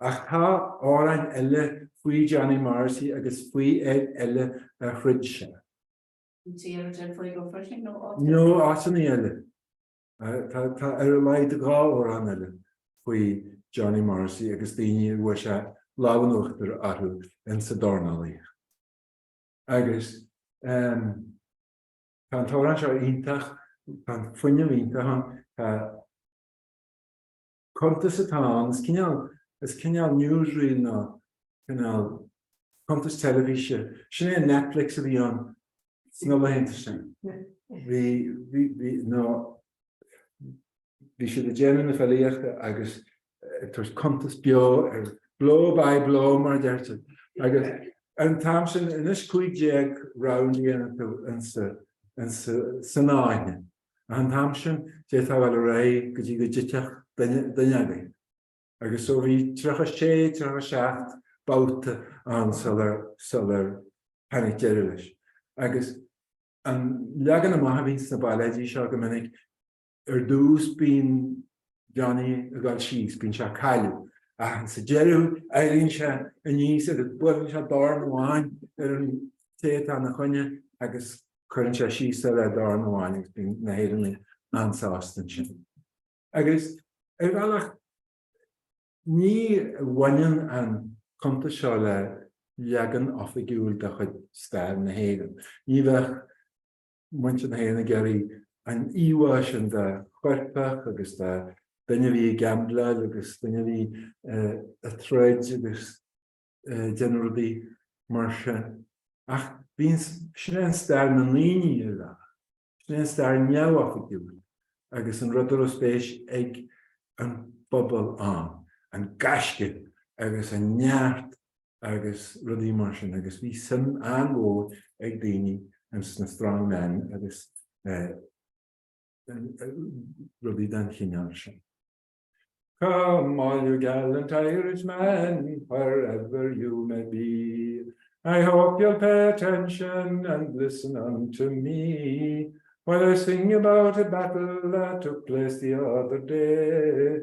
Ach tá amhráin eile faoi Johnny Morrissey agus faoi fhear eile a throid sé. Nó áiteanna eile. Tá ar a laghad dhá amhrán eile faoi Johnny Morrissey agus daoine a bhfuair sé an lámh in uachtar orthu insa dornálaíocht. Agus tá an t-amhrán seo iontach, tá an fuinneamh iontach ann, tá. cuntas atá ann, is cineál, is cineál newsreel nó cineál cuntas teilifíse, sin é an Netflix a bhí ann sna laethanta sin, bhí, bhí, bhí, nó bhí siad ag déanamh na filíochta agus ag tabhairt cuntas beo ar, blow by blow mar a deirtear, agus ar an t-am sin, anois cúig déag round a dhéanann tú insa, insa, san fháinne. Ach an t-am sin, d'fhéadfá a dhul ar aghaidh go dtí go dtitfeadh duine agaibh. Agus so bhí tríocha a sé, tríocha a seacht babhta ann sular tháinig deireadh leis. Agus an leagan amach a bhíonn sna bailéidí seo go minic, ar dtús bíonn. Johnny ag dul síos, bíonn sé ag cailleadh, ach sa deireadh éiríonn sé aníos agus buaileann sé dorn amháin ar an té atá ina choinne agus cuireann sé síos é le dorn amháin agus bíonn na hÉireannaigh an-sásta ansin. Agus ar bhealach ní bhaineann an cuntas seo le leagan oifigiúil de chuid stair na hÉireann, ní bheadh muintir na hÉireann ag iarraidh an íomhá sin de choirpeach agus de dhuine a bhí ag gaimbleáil agus duine a bhí ag troid agus ag déanamh rudaí mar sin. Ach bíonn, sin é stair na ndaoine ar leith, sin é an stair neamhoifigiúil agus an rud a raibh spéis ag an bpobal ann, an gaisce agus an neart agus rudaí mar sin agus bhí suim an-mhór ag daoine ins na strong men agus rudaí den chineál sin. Come all you gallant Irishmen where ever you may be I hope you'll pay attention and listen unto me While I sing about a battle that took place the other day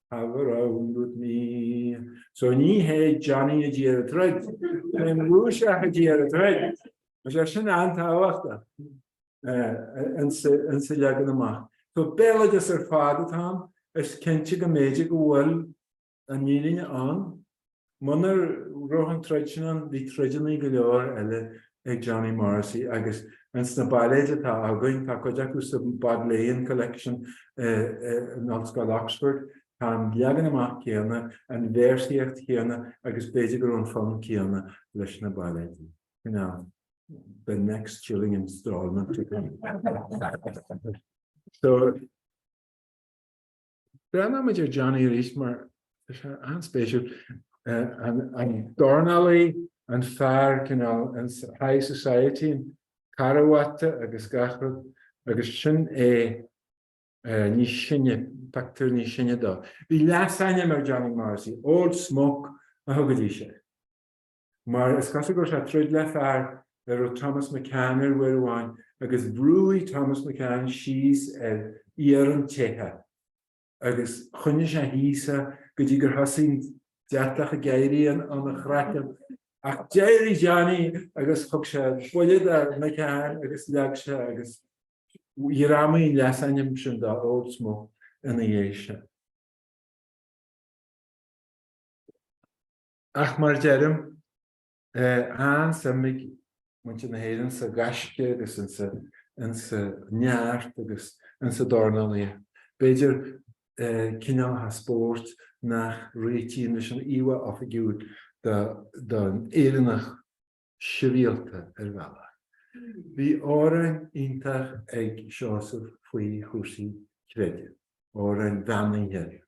have a round with me. So ní hé Johnny a d'iarr an troid, is é an Rúiseach a d'iarr an troid. Tá sé sin an-tábhachtach insa leagan amach. So béaloideas ar fad atá ann, is cinnte go mb'fhéidir go bhfuil an fhírinne ann Munar raibh an troid sin ann, bhí troideanna go leor eile ag Johnny Morrissey agus ins na bailéid atá againn, tá cuid acu sa Bodleian Collection in Ollscoil Oxford, tá an leagan amach céanna, an véarsaíocht chéanna agus b'fhéidir go raibh an fonn céanna leis na bailéid. Cineál the next chilling installment to come. Breathnaímid ar Johnny arís mar tá sé an-spéisiúil, an dornálaí, an fear cineál high society, an carbhat agus gach rud, agus sin é níos sine, pictiúr níos sine dó. Bhí leasainm ar Johnny Morrissey, Old Smoke a thugaidís air. mar is cosúil go raibh sé ag troid le fear a raibh Thomas McCann air uair amháin agus bhrúigh Thomas McCann síos ar iarann te agus choinnigh sé thíos é go dtí gur thosaigh an deatach ag éirí óna chraiceann ach d'éirigh Johnny agus thug sé buille do McCann agus leag sé é agus ghreamaigh an leasainm sin dó Old Smoke ina dhiaidh sin. Ach mar a deirim, tá an-suim ag muintir na hÉireann sa ghaisce agus insa neart agus insa dornálaíocht. B'fhéidir cineálacha spóirt nach réitíonn leis an íomhá oifigiúil don Éireannach sibhialta, ar bhealach. Bhí amhráin iontach ag Seosamh faoi chúrsaí creidimh, amhráin bheannaithe.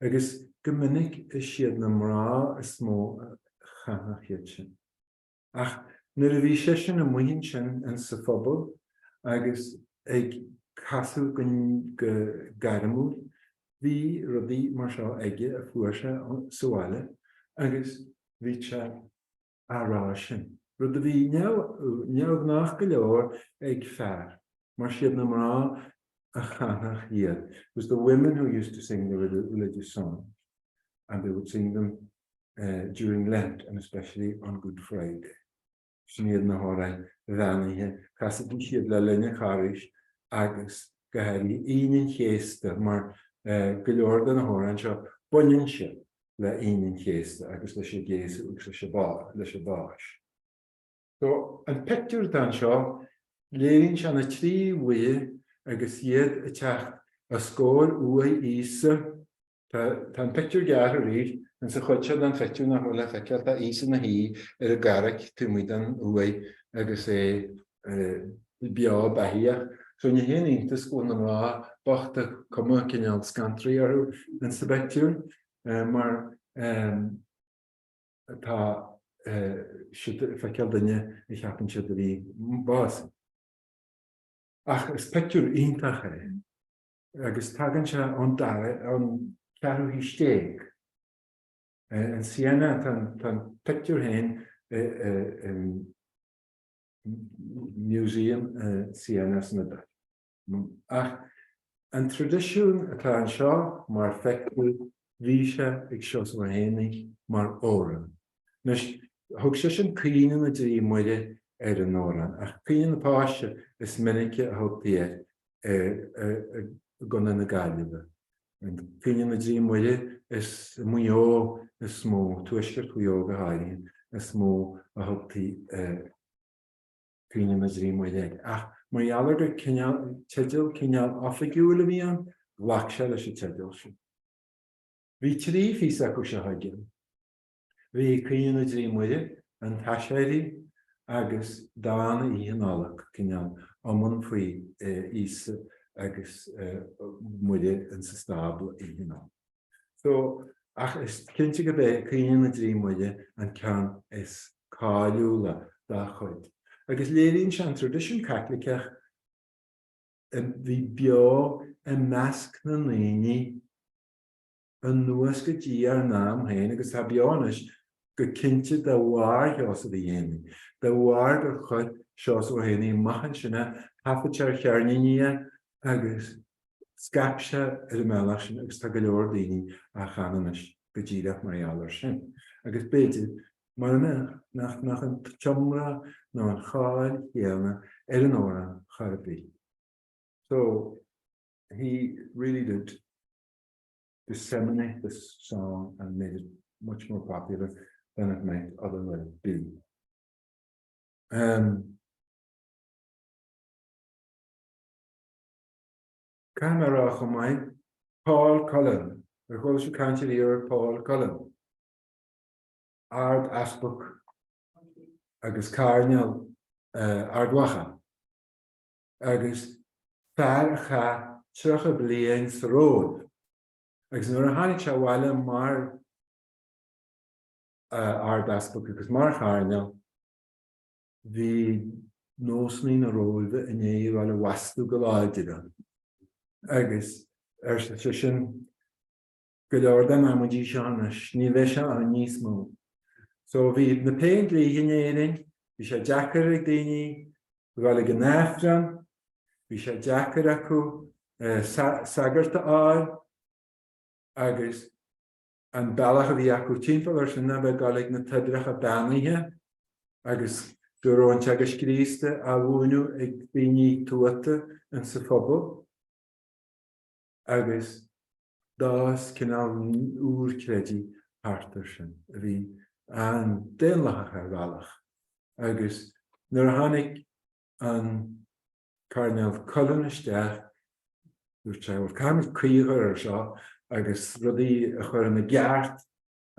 Agus go minic is iad na mná is mó a chasadh iad sin. Ach nuair a bhí seisean amuigh ansin in sa phobal agus ag casadh go gairmiúil, bhí rudaí mar seo aige a fuair sé sa bhaile agus bhí sé. á rá sin, rud a bhí neamhghnách go leor ag fear, mar siad na mná a chanfadh iad, it was the women who used to sing the religious songs and they would sing them during Lent and especially on Good Friday. Sin iad na hamhráin bheannaithe, chasaidís siad le linn an Charghais agus go háirithe Aoine an Chéasta mar go leor de na hamhráin seo, baineann siad. le Aoine an Chéasta agus leis an gCéasadh agus leis an bPáis. Só, an pictiúr donn seo, léiríonn sé na trí bhuíon agus iad ag teacht os comhair uaigh Íosa. Tá an pictiúr gearrtha arís ins an chuid seo den phictiúr nach bhfuil le feiceáil, tá Íosa ina shuí ar an gcarraig taobh amuigh den uaigh agus é. beo beathaíoch. So ní haon iontas go bhfuil na mná bochta cuma cineál scanraithe orthu insa bpictiúr mar tá siad ag feiceáil duine a cheapann siad a bhí bás. Ach is pictiúr iontach é agus tagann sé ón dara, ón ceathrú haois déag. In Siena tá an pictiúr féin i, Museum, Siena is dóigh. Ach an traidisiún atá anseo, mar a fheiceann tú, bhí sé ag Seosamh Ó hÉanaí mar amhrán. Anois, thug seisean Caoineadh na dTrí Muire ar an amhrán, ach Caoineadh na Páise is minice a thugtaí air i gContae na Gaillimhe. Caoineadh na dTrí Muire is i Maigh Eo is mó, tuaisceart Mhaigh Eo go háirithe, is mó a thugtaí Caoineadh na dTrí Muire air. Ach mar gheall ar gur teideal cineál oifigiúil a bhí ann, ghlac sé leis an teideal sin. Bhí trí phíosa acu seo aige. Bhí Caoineadh na dTrí Muire, An tAiséirí agus Dán Oíche Nollag cineál iomann faoi Íosa agus Muire insa stábla oíche Nollag. So, ach is cinnte gurb é Caoineadh na dTrí Muire an ceann is cáiliúla dá chuid agus léiríonn sé an traidisiún Caitliceach a bhí beo i measc na ndaoine, anuas go dtí ár n-am féin agus atá beo anois go cinnte de bharr Sheosaimh Uí Éanaí, de bharr gur chuir Seosamh Ó hÉanaí amach ansin ar thaifead ar cheirníní é agus scaip sé ar an mbealach sin agus tá go leor daoine á chanadh anois go díreach mar gheall air sin agus b'fhéidir mura mbeadh nach mbeadh an t-iomrá nó an cháil chéanna ar an amhrán chor ar bith. So he really did. disseminate this song and made it much more popular than it might otherwise be. Um, Camera chomh maith, Paul Cullen, ar dhul si caiint ar iar Paul Cullen, ard easpag agus cairneal uh, ardmhacha. agus fear a chaith tríocha bliain sa Róimh agus nuair a tháinig sé abhaile mar Ardeaspag agus mar Chairdinéal bhí nósanna na Róimhe i ndiaidh a bheith le mothú go láidir air agus arsa seisean, go leor den amaidí seo anois, ní bheidh sé ann níos mó. So, bhí na Péindlíthe in Éirinn, bhí sé deacair ag daoine dul ag an Aifreann, bhí sé deacair acu sagart a fháil agus an bealach a bhí acu timpeall air sin ab ea dul ag na toibreacha beannaithe agus go raibh an Teagasc Críostaí á mhúineadh ag daoine tuata insa phobal agus D'fhás cineál úr creidimh thart air sin, a bhí an-daonlathach ar bhealach, agus nuair a tháinig an Cairdinéal Cullen isteach, dúirt sé, bhuel, caithfimid críoch a chur air seo agus rudaí a chur ina gceart,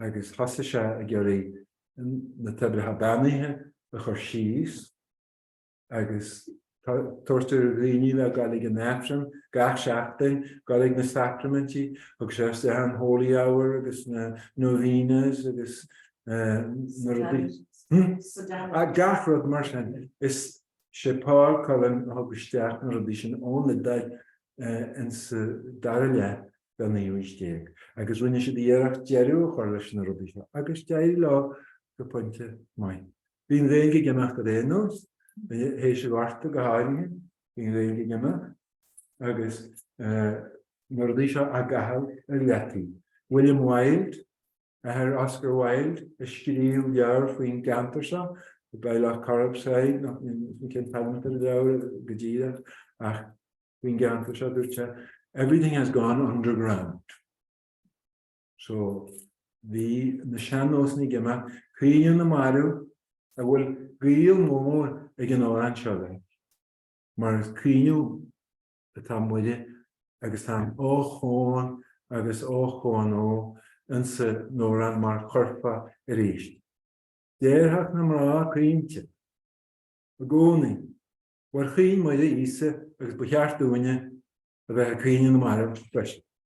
agus thosaigh sé ag iarraidh na Toibreacha Beannaithe a chur síos. Agus tabhairt ar dhaoine le dul ag an Aifreann gach seachtain, dul ag na sacraimintí, thug sé isteach an holy hour agus na novenas agus na rudaí, hm? Ah, gach rud mar sin. Is sé Paul Cullen a thug isteach na rudaí sin ón Iodáil insa dara leath den naoú haois déag agus rinne siad iarracht deireadh a chur leis na rudaí seo agus d'éirigh leo go pointe maith. Bhí an Ghaeilge ag imeacht ar aon nós, théis an Ghorta go háirithe, bhí an Ghaeilge ag imeacht agus na rudaí seo á gcaitheamh ar leataobh. William Wilde, athair Oscar Wilde, a scríobh leabhar faoin gceantar seo, The By Lough Corrib Side, níl a fhios agam cén t-ainm atá ar an leabhar go díreach ach faoin gceantar seo, dúirt sé, Everything has gone underground. So, bhí na sean-nósanna ag imeacht, caoineadh na marbh, a bhfuil gaol mór ag an amhrán seo leis, mar ag caoineadh atá Muire agus tá an ochón agus ochón ó insa n-amhrán mar churfá arís. Déarfadh na mná caointe i gcónaí, bhuel chaoin Muire Íosa agus ba cheart dúinne a bheith ag caoineadh na marbh freisin.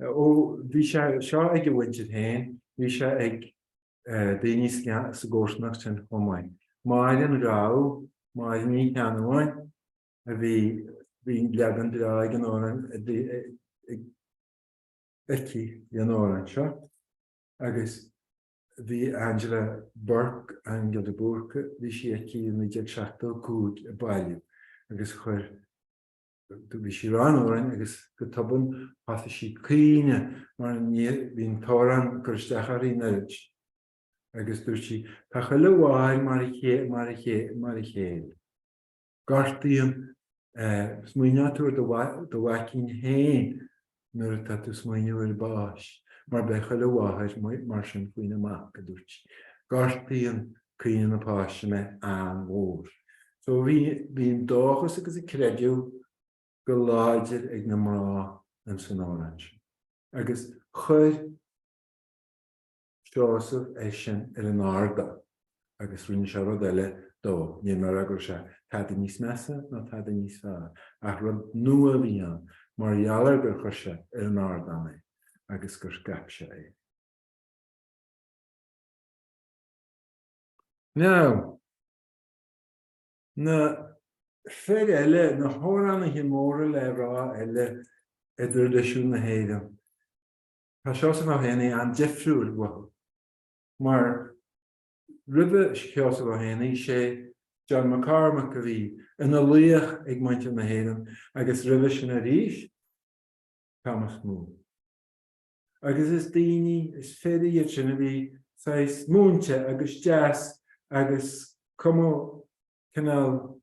Ó bhí sé seo ag a mhuintir féin, bhí sé ag daoine sa gcomharsanacht sin chomh maith. Máire an Ghabha, Máire Ní Cheannabháin, a bhí, bhí leagan breá den amhrán aici ar an amhrán seo agus bhí Angela Bourke, Aingeal de Búrca, bhí sí aici i 1975 ag bailiú agus chuir, Dúirt sí rann den amhrán agus go tobann thosaigh sí ag caoineadh mar bhí an t-amhrán ag cur isteach uirthi in oiread agus dúirt sí, Tá chuile mháthair mar a chéile. Gortaíonn sé. Smaoineoidh tú ar do mhaicín féin nuair atá tú 'smaoineamh ar bhás, mar beidh chuile mháthair mar sin faoina mac, a dúirt sí. Gortaíonn caoineadh na Páise mé an-mhór. So bhí bhí an dóchas agus an creideamh go láidir ag na mná in san amhrán sin agus chuir, Seosamh é sin ar an ardán agus rinne sé rud eile dó, ní mar gheall go raibh sé tada níos measa ná tada níos fearr, ach rud nua a bhí ann mar gheall ar gur chuir sé ar an ardán é agus gur scaip sé é. Now, na fir eile, na hamhránaithe móra le rá eile i dtraidisiún na hÉireann, Tá Seosamh Ó hÉanaí an-difriúil uathu. Mar roimhe Sheosamh Ó hÉanaí, sé John McCormack a bhí ina laoch ag muintir na hÉireann agus roimhe sin arís, Thomas Moore. Agus is daoine, is fir iad sin a bhí saghas múinte agus deas agus cuma cineál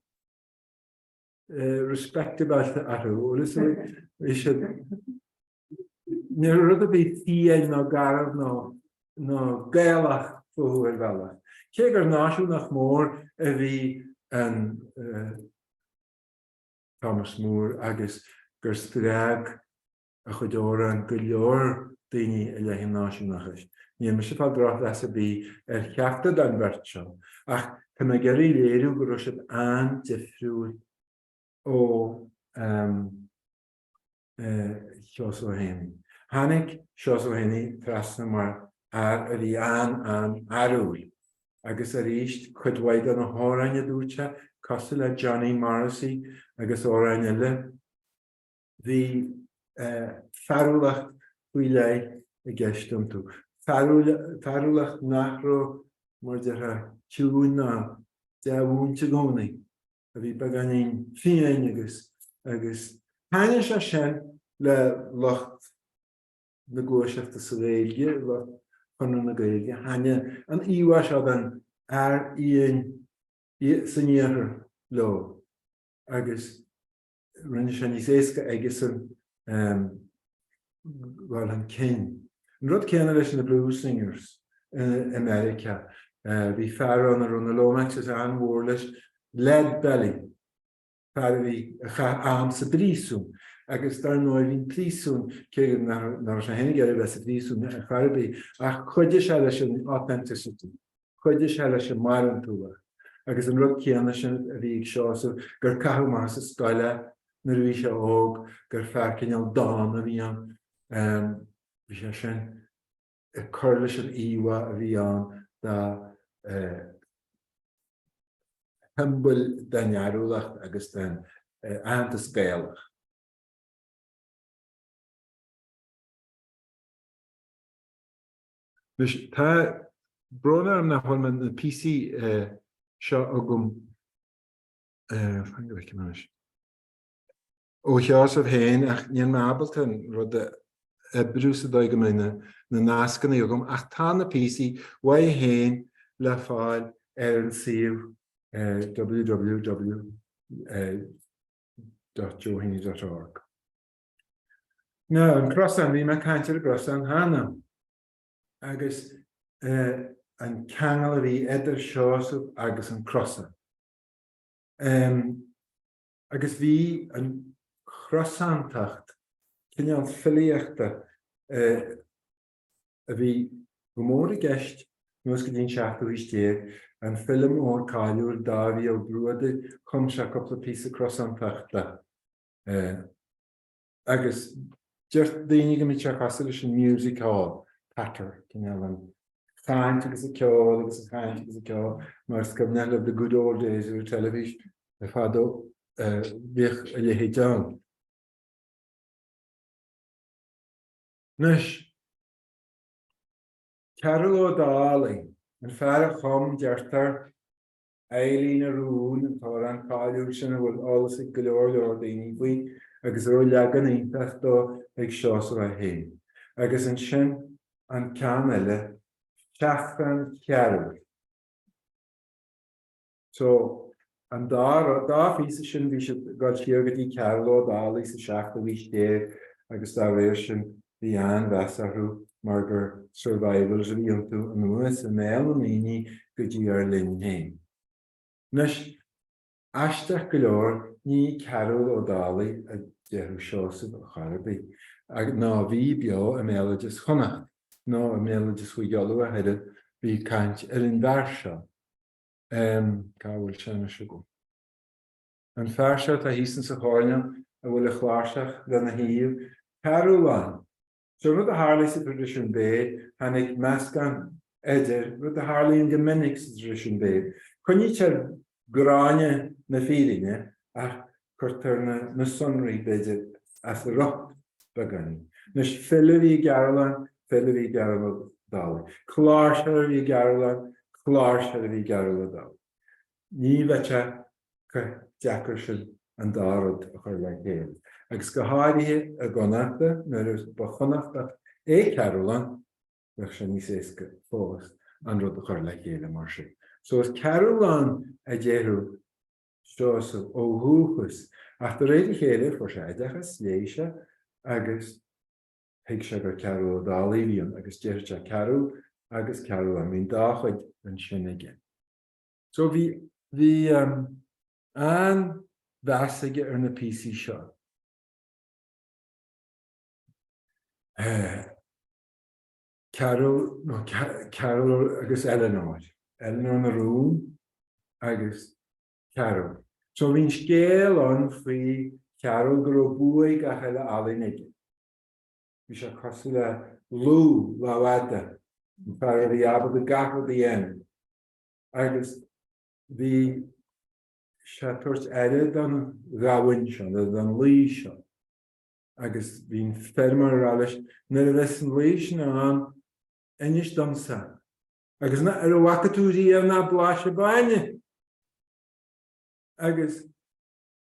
respectable orthu, bhfuil fhios a'd. Bhí siad. ní rud a bhí fiáin nó garbh nó Gaelach fúthu ar bhealach. Cé gur náisiúnach mór a bhí in Thomas Moore agus gur spreag a chuid amhrán go leor daoine i leith an náisiúnachais, níl mise ag fáil drochmheas ar bith ar cheachtar den bheirt seo ach tá mé ag iarraidh léiriú go raibh siad an-difriúil ó Sheosamh Ó hÉanaí. Tháinig Seosamh Ó hÉanaí trasna mar fhear a bhí an-an-fhearúil agus arís cuid mhaith de na hamhráin a dúirt sé, cosúil le Johnny Morrissey agus amhráin eile, bhí fearúlacht faoi leith i gceist iontu, fearúlacht nach raibh, mar déarfá, ciúin ná dea-mhúinte i gcónaí. a bhí beagáinín fiáin agus agus thaithnigh sé sin le lucht na gluaiseachta sa Ghaeilge, lucht Chonradh na Gaeilge, thaithnigh an íomhá seo den fhear fhiáin san Iarthar leo agus. rinne sé níos éasca aigesean dhul chun cinn. An rud céanna leis na blues singers in America. Bhí fear ann a raibh na Lomaxes an-mhór leis, Lead Belly, fear a bhí, a chaith am sa bpríosún agus dar ndóigh bhí an príosún, cé go nach raibh sé féin ag iarraidh a bheith sa bpríosún chor ar bith, ach chuidigh sé leis an authenticity. Chuidigh sé leis an mbarántúlacht agus an rud céanna sin a bhí ag Seosamh, gur caitheadh amach as an scoil é nuair a bhí sé óg, gur fear cineál dána a bhí ann. Bhí sé sin ag cur leis an íomhá a bhí ann dá shiombail den fhearúlacht agus den aitheantas Gaelach. Anois, tá brón orm nach bhfuil na píosaí seo agam, fan go bhfeicim anois, ó Sheosamh féin ach níl mé ábalta an rud a oibriú sa dóigh go mbeidh na nascanna agam ach tá na píosaí uaidh féin le fáil ar an suíomh www.joeheaney.org. Ná an crosán, bhí mé ag caint ar an gcrosán cheana, agus an ceangal a bhí idir Seosamh agus an crosán. Agus bhí an chrosántacht, cineál filíochta a bhí go mór i gceist anuas go dtí an seachtú haois déag, an file mór cáiliúil Dáibhí Ó Bruadair, chum sé cúpla píosa crosántachta. agus deir daoine go mbíonn sé cosúil leis an music hall, patter, cineál an chaint agus an ceol agus an chaint agus an ceol más cuimhneach libh the good old days of the television fadó bhíodh a leithéid ann. Anois, Cearbhall Ó Dálaigh, an fear a chum, deirtear, Eileanóir na Rún, an t-amhrán cáiliúil sin a bhfuil eolas ag go leor leor daoine faoi agus a raibh leagan iontach dó ag Seosamh é féin. Agus ansin an ceann eile, Seachrán Chearbhaill. So, an dá rud, dá phíosa sin bhí siad ag dul siar go dtí Cearbhall Ó Dálaigh sa seachtú haois déag agus dá réir sin. Bhí an-mheas orthu mar gur 'survivals' a bhí iontu, anuas i mbéal na ndaoine go dtí ár linn féin. Anois, aisteach go leor, ní Cearúll Ó Dálaigh a déarfadh Seosamh a chor ar bith, nó bhí beo i mbéaloideas Chonnacht, nó i mbéaloideas Mhaigh Eo le chéile, bhí caint ar an bhfear seo, cá bhfuil sé anois agam? an fear seo atá thíos insa choirnéal a bhfuil a chláirseach lena thaobh, Cearúlláin. Seo rud a tharlaigh sa traidisiún béil, tháinig meascán idir, rud a tharlaíonn go minic sa traidisiún béil, coinnítear gráinne na fírinne ach cuirtear na sonraí, b'fhéidir, as a riocht beagáinín. Anois, file a bhí i gCearúlláin, file a bhí i gCearúll Dálaigh. Cláirseoir a bhí i gCearúlláin, cláirseoir a bhí i gCearúll Dálaigh. Ní bheadh sé chomh deacair sin an dá rud a chur le chéile, agus go háirithe i gConnachta, nuair ba Chonnachtach é Cearúlláin, bheadh sé níos éasca fós an rud a chur le chéile mar sin. So is Cearúlláin a déarfadh Seosamh ó dhúchas, ach de réir a chéile fuair sé oideachas, léigh sé, agus thuig sé gur Cearúll Ó Dálaigh a bhí ann, agus déarfadh sé Cearúll agus Cearúlláin, bíonn dá chuid ansin aige. So bhí bhí an-mheas aige ar na píosaí seo. Cearúll nó Cearúll agus Eleanor. Eleanor na Rún agus Cearúll. So bhí an scéal ann faoi Chearúll go raibh buaidh gach uile ealaín aige. Bhí sé cosúil le Lugh, Lámhfhada, an fear a bhí ábalta gach rud a dhéanamh. agus bhí sé ag tabhairt aire don ghamhain seo nó don lao seo agus bhí an feirmeoir ag rá leis, nuair a bheas an lao sin ann, inis domsa, agus ná, ar a bhfaca tú riamh ná blais an bainne? Agus.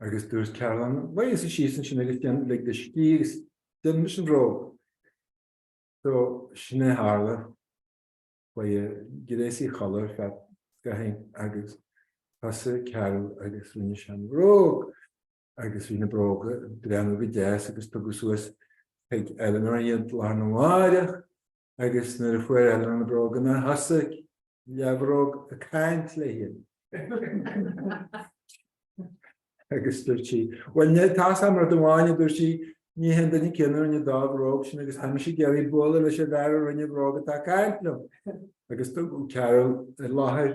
Agus dúirt Cearúlláin, Luigh thusa síos ansin agus déan, lig do scíth agus déanfaidh mise an bhróg. So, sin é a tharla. Chuaigh an gréasaí a chodladh ar feadh scaithín agus thosaigh Cearúll agus rinne sé an bhróg agus bhí na bróga ag breathnú go deas agus tugadh suas chuig Eleanor iad lá arna mháireach agus nuair a fuair Eleanor na bróganna, thosaigh leathbhróg ag caint léi. Agus dúirt sí, Bhuel, tá's agam rud amháin, a dúirt sí, ní hé an duine céanna a rinne an dá bhróg sin agus tá mise ag iarraidh bualadh leis an bhfear a rinne an bhróg atá ag caint liom. Agus tugadh Cearúll i láthair.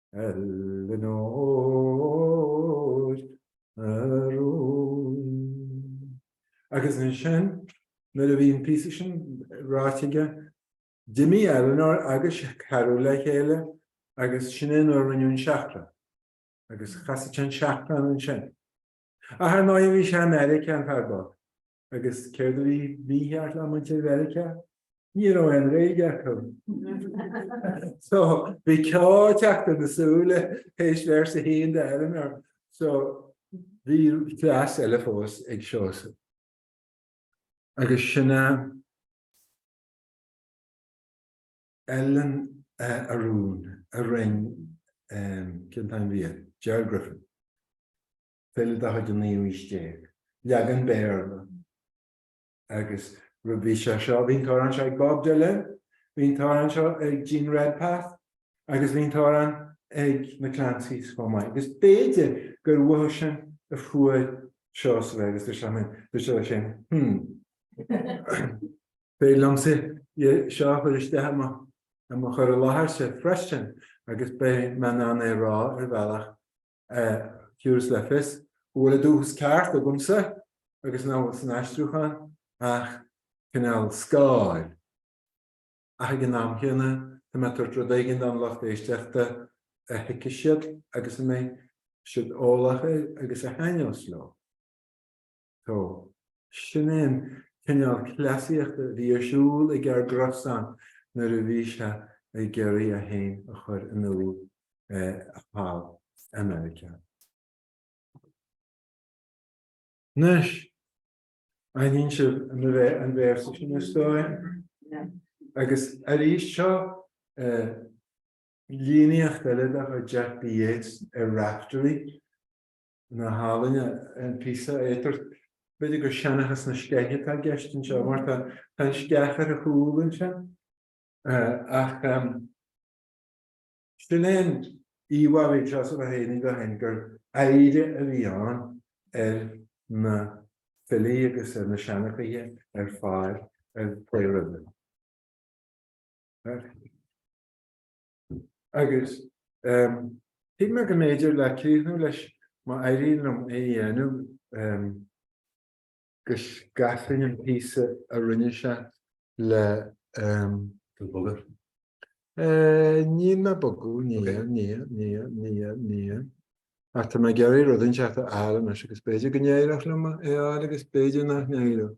Eileanóir a rún. Agus ansin, nuair a bhí an píosa sin ráite aige, d'imigh Eileanóir agus Cearbhall le chéile agus sin é nuair a rinneadh an seachrán. Agus chasadh sé an seachrán ansin. Ach ar ndóigh bhí sé i Meiriceá, an fear bocht. Agus céard a bhí mícheart le muintir Mheiriceá? Ní raibh aon Ghaeilge acu. So, bhí ceo ag teacht ar na súile théis véarsa a haon de Eileanóir. So, bhí cleas eile fós ag Seosamh. Agus sin é. Ellen a rún a rinne, cén t-ainm a bhí air? Gerald Griffin. file de chuid an naoú haois déag, leagan Béarla. Agus bhí sé seo, bhí an t-amhrán seo ag Bob Dylan, bhí an t-amhrán seo ag Jean Redpath agus bhí an t-amhrán ag na Clancys chomh maith. Agus b'fhéidir gur uathu sin a fuair Seosamh é agus dúirt sé linn, dúirt sé leis féin, hmm, b'fhéidir liomsa é seo a chur isteach i mo chur i láthairse freisin agus beidh mé in ann é a rá ar bhealach Thabharfas le fios go bhfuil an dúchas ceart agamsa agus nach bhfuil san aistriúchán ach cineál scáil, ach ag an am céanna tá mé ag tabhairt rud éigin don lucht éisteachta a thuigfidh siad agus a mbeidh siad eolach air agus a thaitneos leo. So. Sin é an cineál cleasaíochta a bhí ar siúl ag ár gcrosán nuair a bhí sé ag iarraidh é féin a chur in iúl thall i Meiriceá. Anois, aithníonn sibh an véarsa sin, is dóigh? Agus arís, seo líníocht eile de chuid Jack B. Yeats ar Raftery. Nach álainn an píosa é. B'fhéidir gur seanchas na sceiche atá i gceist anseo, mar tá an sceach ar a chúl anseo. Ach sin é an íomhá a bhí ag Seosamh Ó hÉanaí dó féin, gur oidhre a bhí ann ar na filí agus ar na seanchaithe ar fad a chuaigh roimhe. Agus shíl mé go mb'fhéidir le críochnú leis, má éiríonn liom é a dhéanamh, go gcasfainn an píosa a rinne sé le An bogadh? Ní le bogadh, ní, ní, ní, ní, ní. Ach tá mé ag iarraidh rud inteacht a fháil anois agus b'fhéidir go n-éireoidh liom é a fháil agus b'fhéidir nach n-éireoidh.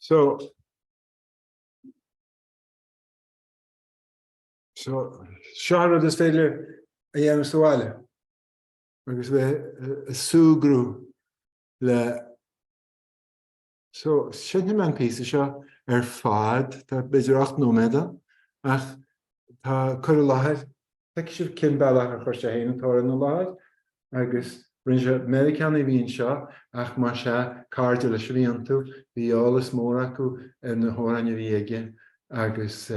So, so, seo an rud is féidir a dhéanamh sa bhaile agus bheith ag súgradh leis, so, seinnfidh mé an píosa seo ar fad, tá b'fhéidir ocht nóiméad ann ach tá cur i láthair Feicfidh sibh cén bealach a chuir sé féin an t-amhrán i láthair agus rinne sé, Meiriceánaigh a bhí anseo ach mar sin, cairde leis a bhí iontu, bhí eolas mór acu ar na hamhráin a bhí aige agus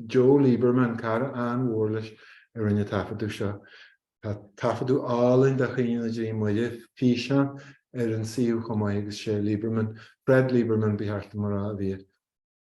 Joe Lieberman, cara an-mhór leis, a rinne an taifeadadh seo. Tá taifeadadh álainn de Chaoineadh na dTrí Muire, físeán, ar an suíomh chomh maith agus sé Lieberman, Fred Lieberman, ba cheart dom a rá, a bhí air.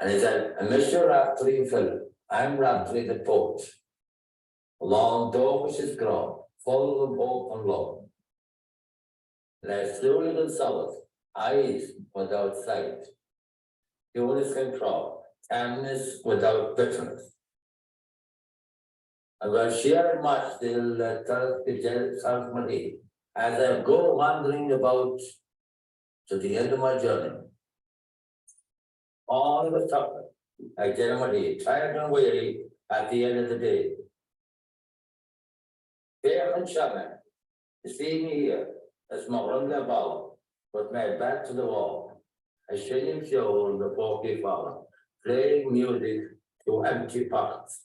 And he said, A Mister Raftery, a Phil, I'm Raftery the poet. Lán dóchais is grá, full of hope and love. Leis súile gan solas, eyes without sight. Ciúnas gan crá, calmness without bitterness. Ag dul siar ag maisteadh le turas go deireadh South Marie. As I go wandering about to the end of my journey. Ann agus tugtha, a deir muid í, tired and weary at the end of the day. Féach anseo mé, you see me here, is mo dhroim le balla, with my back to the wall, ag seinm ceoil na bpócaí fola, playing music to empty pockets.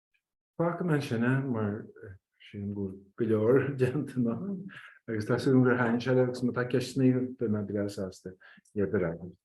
Fágfaidh mé sin ann mar sílim go bhfuil go leor déanta ann agus tá súil agam gur thaithin sé libh agus má tá ceisteanna agaibh beidh mé breá sásta iad a fhreagairt.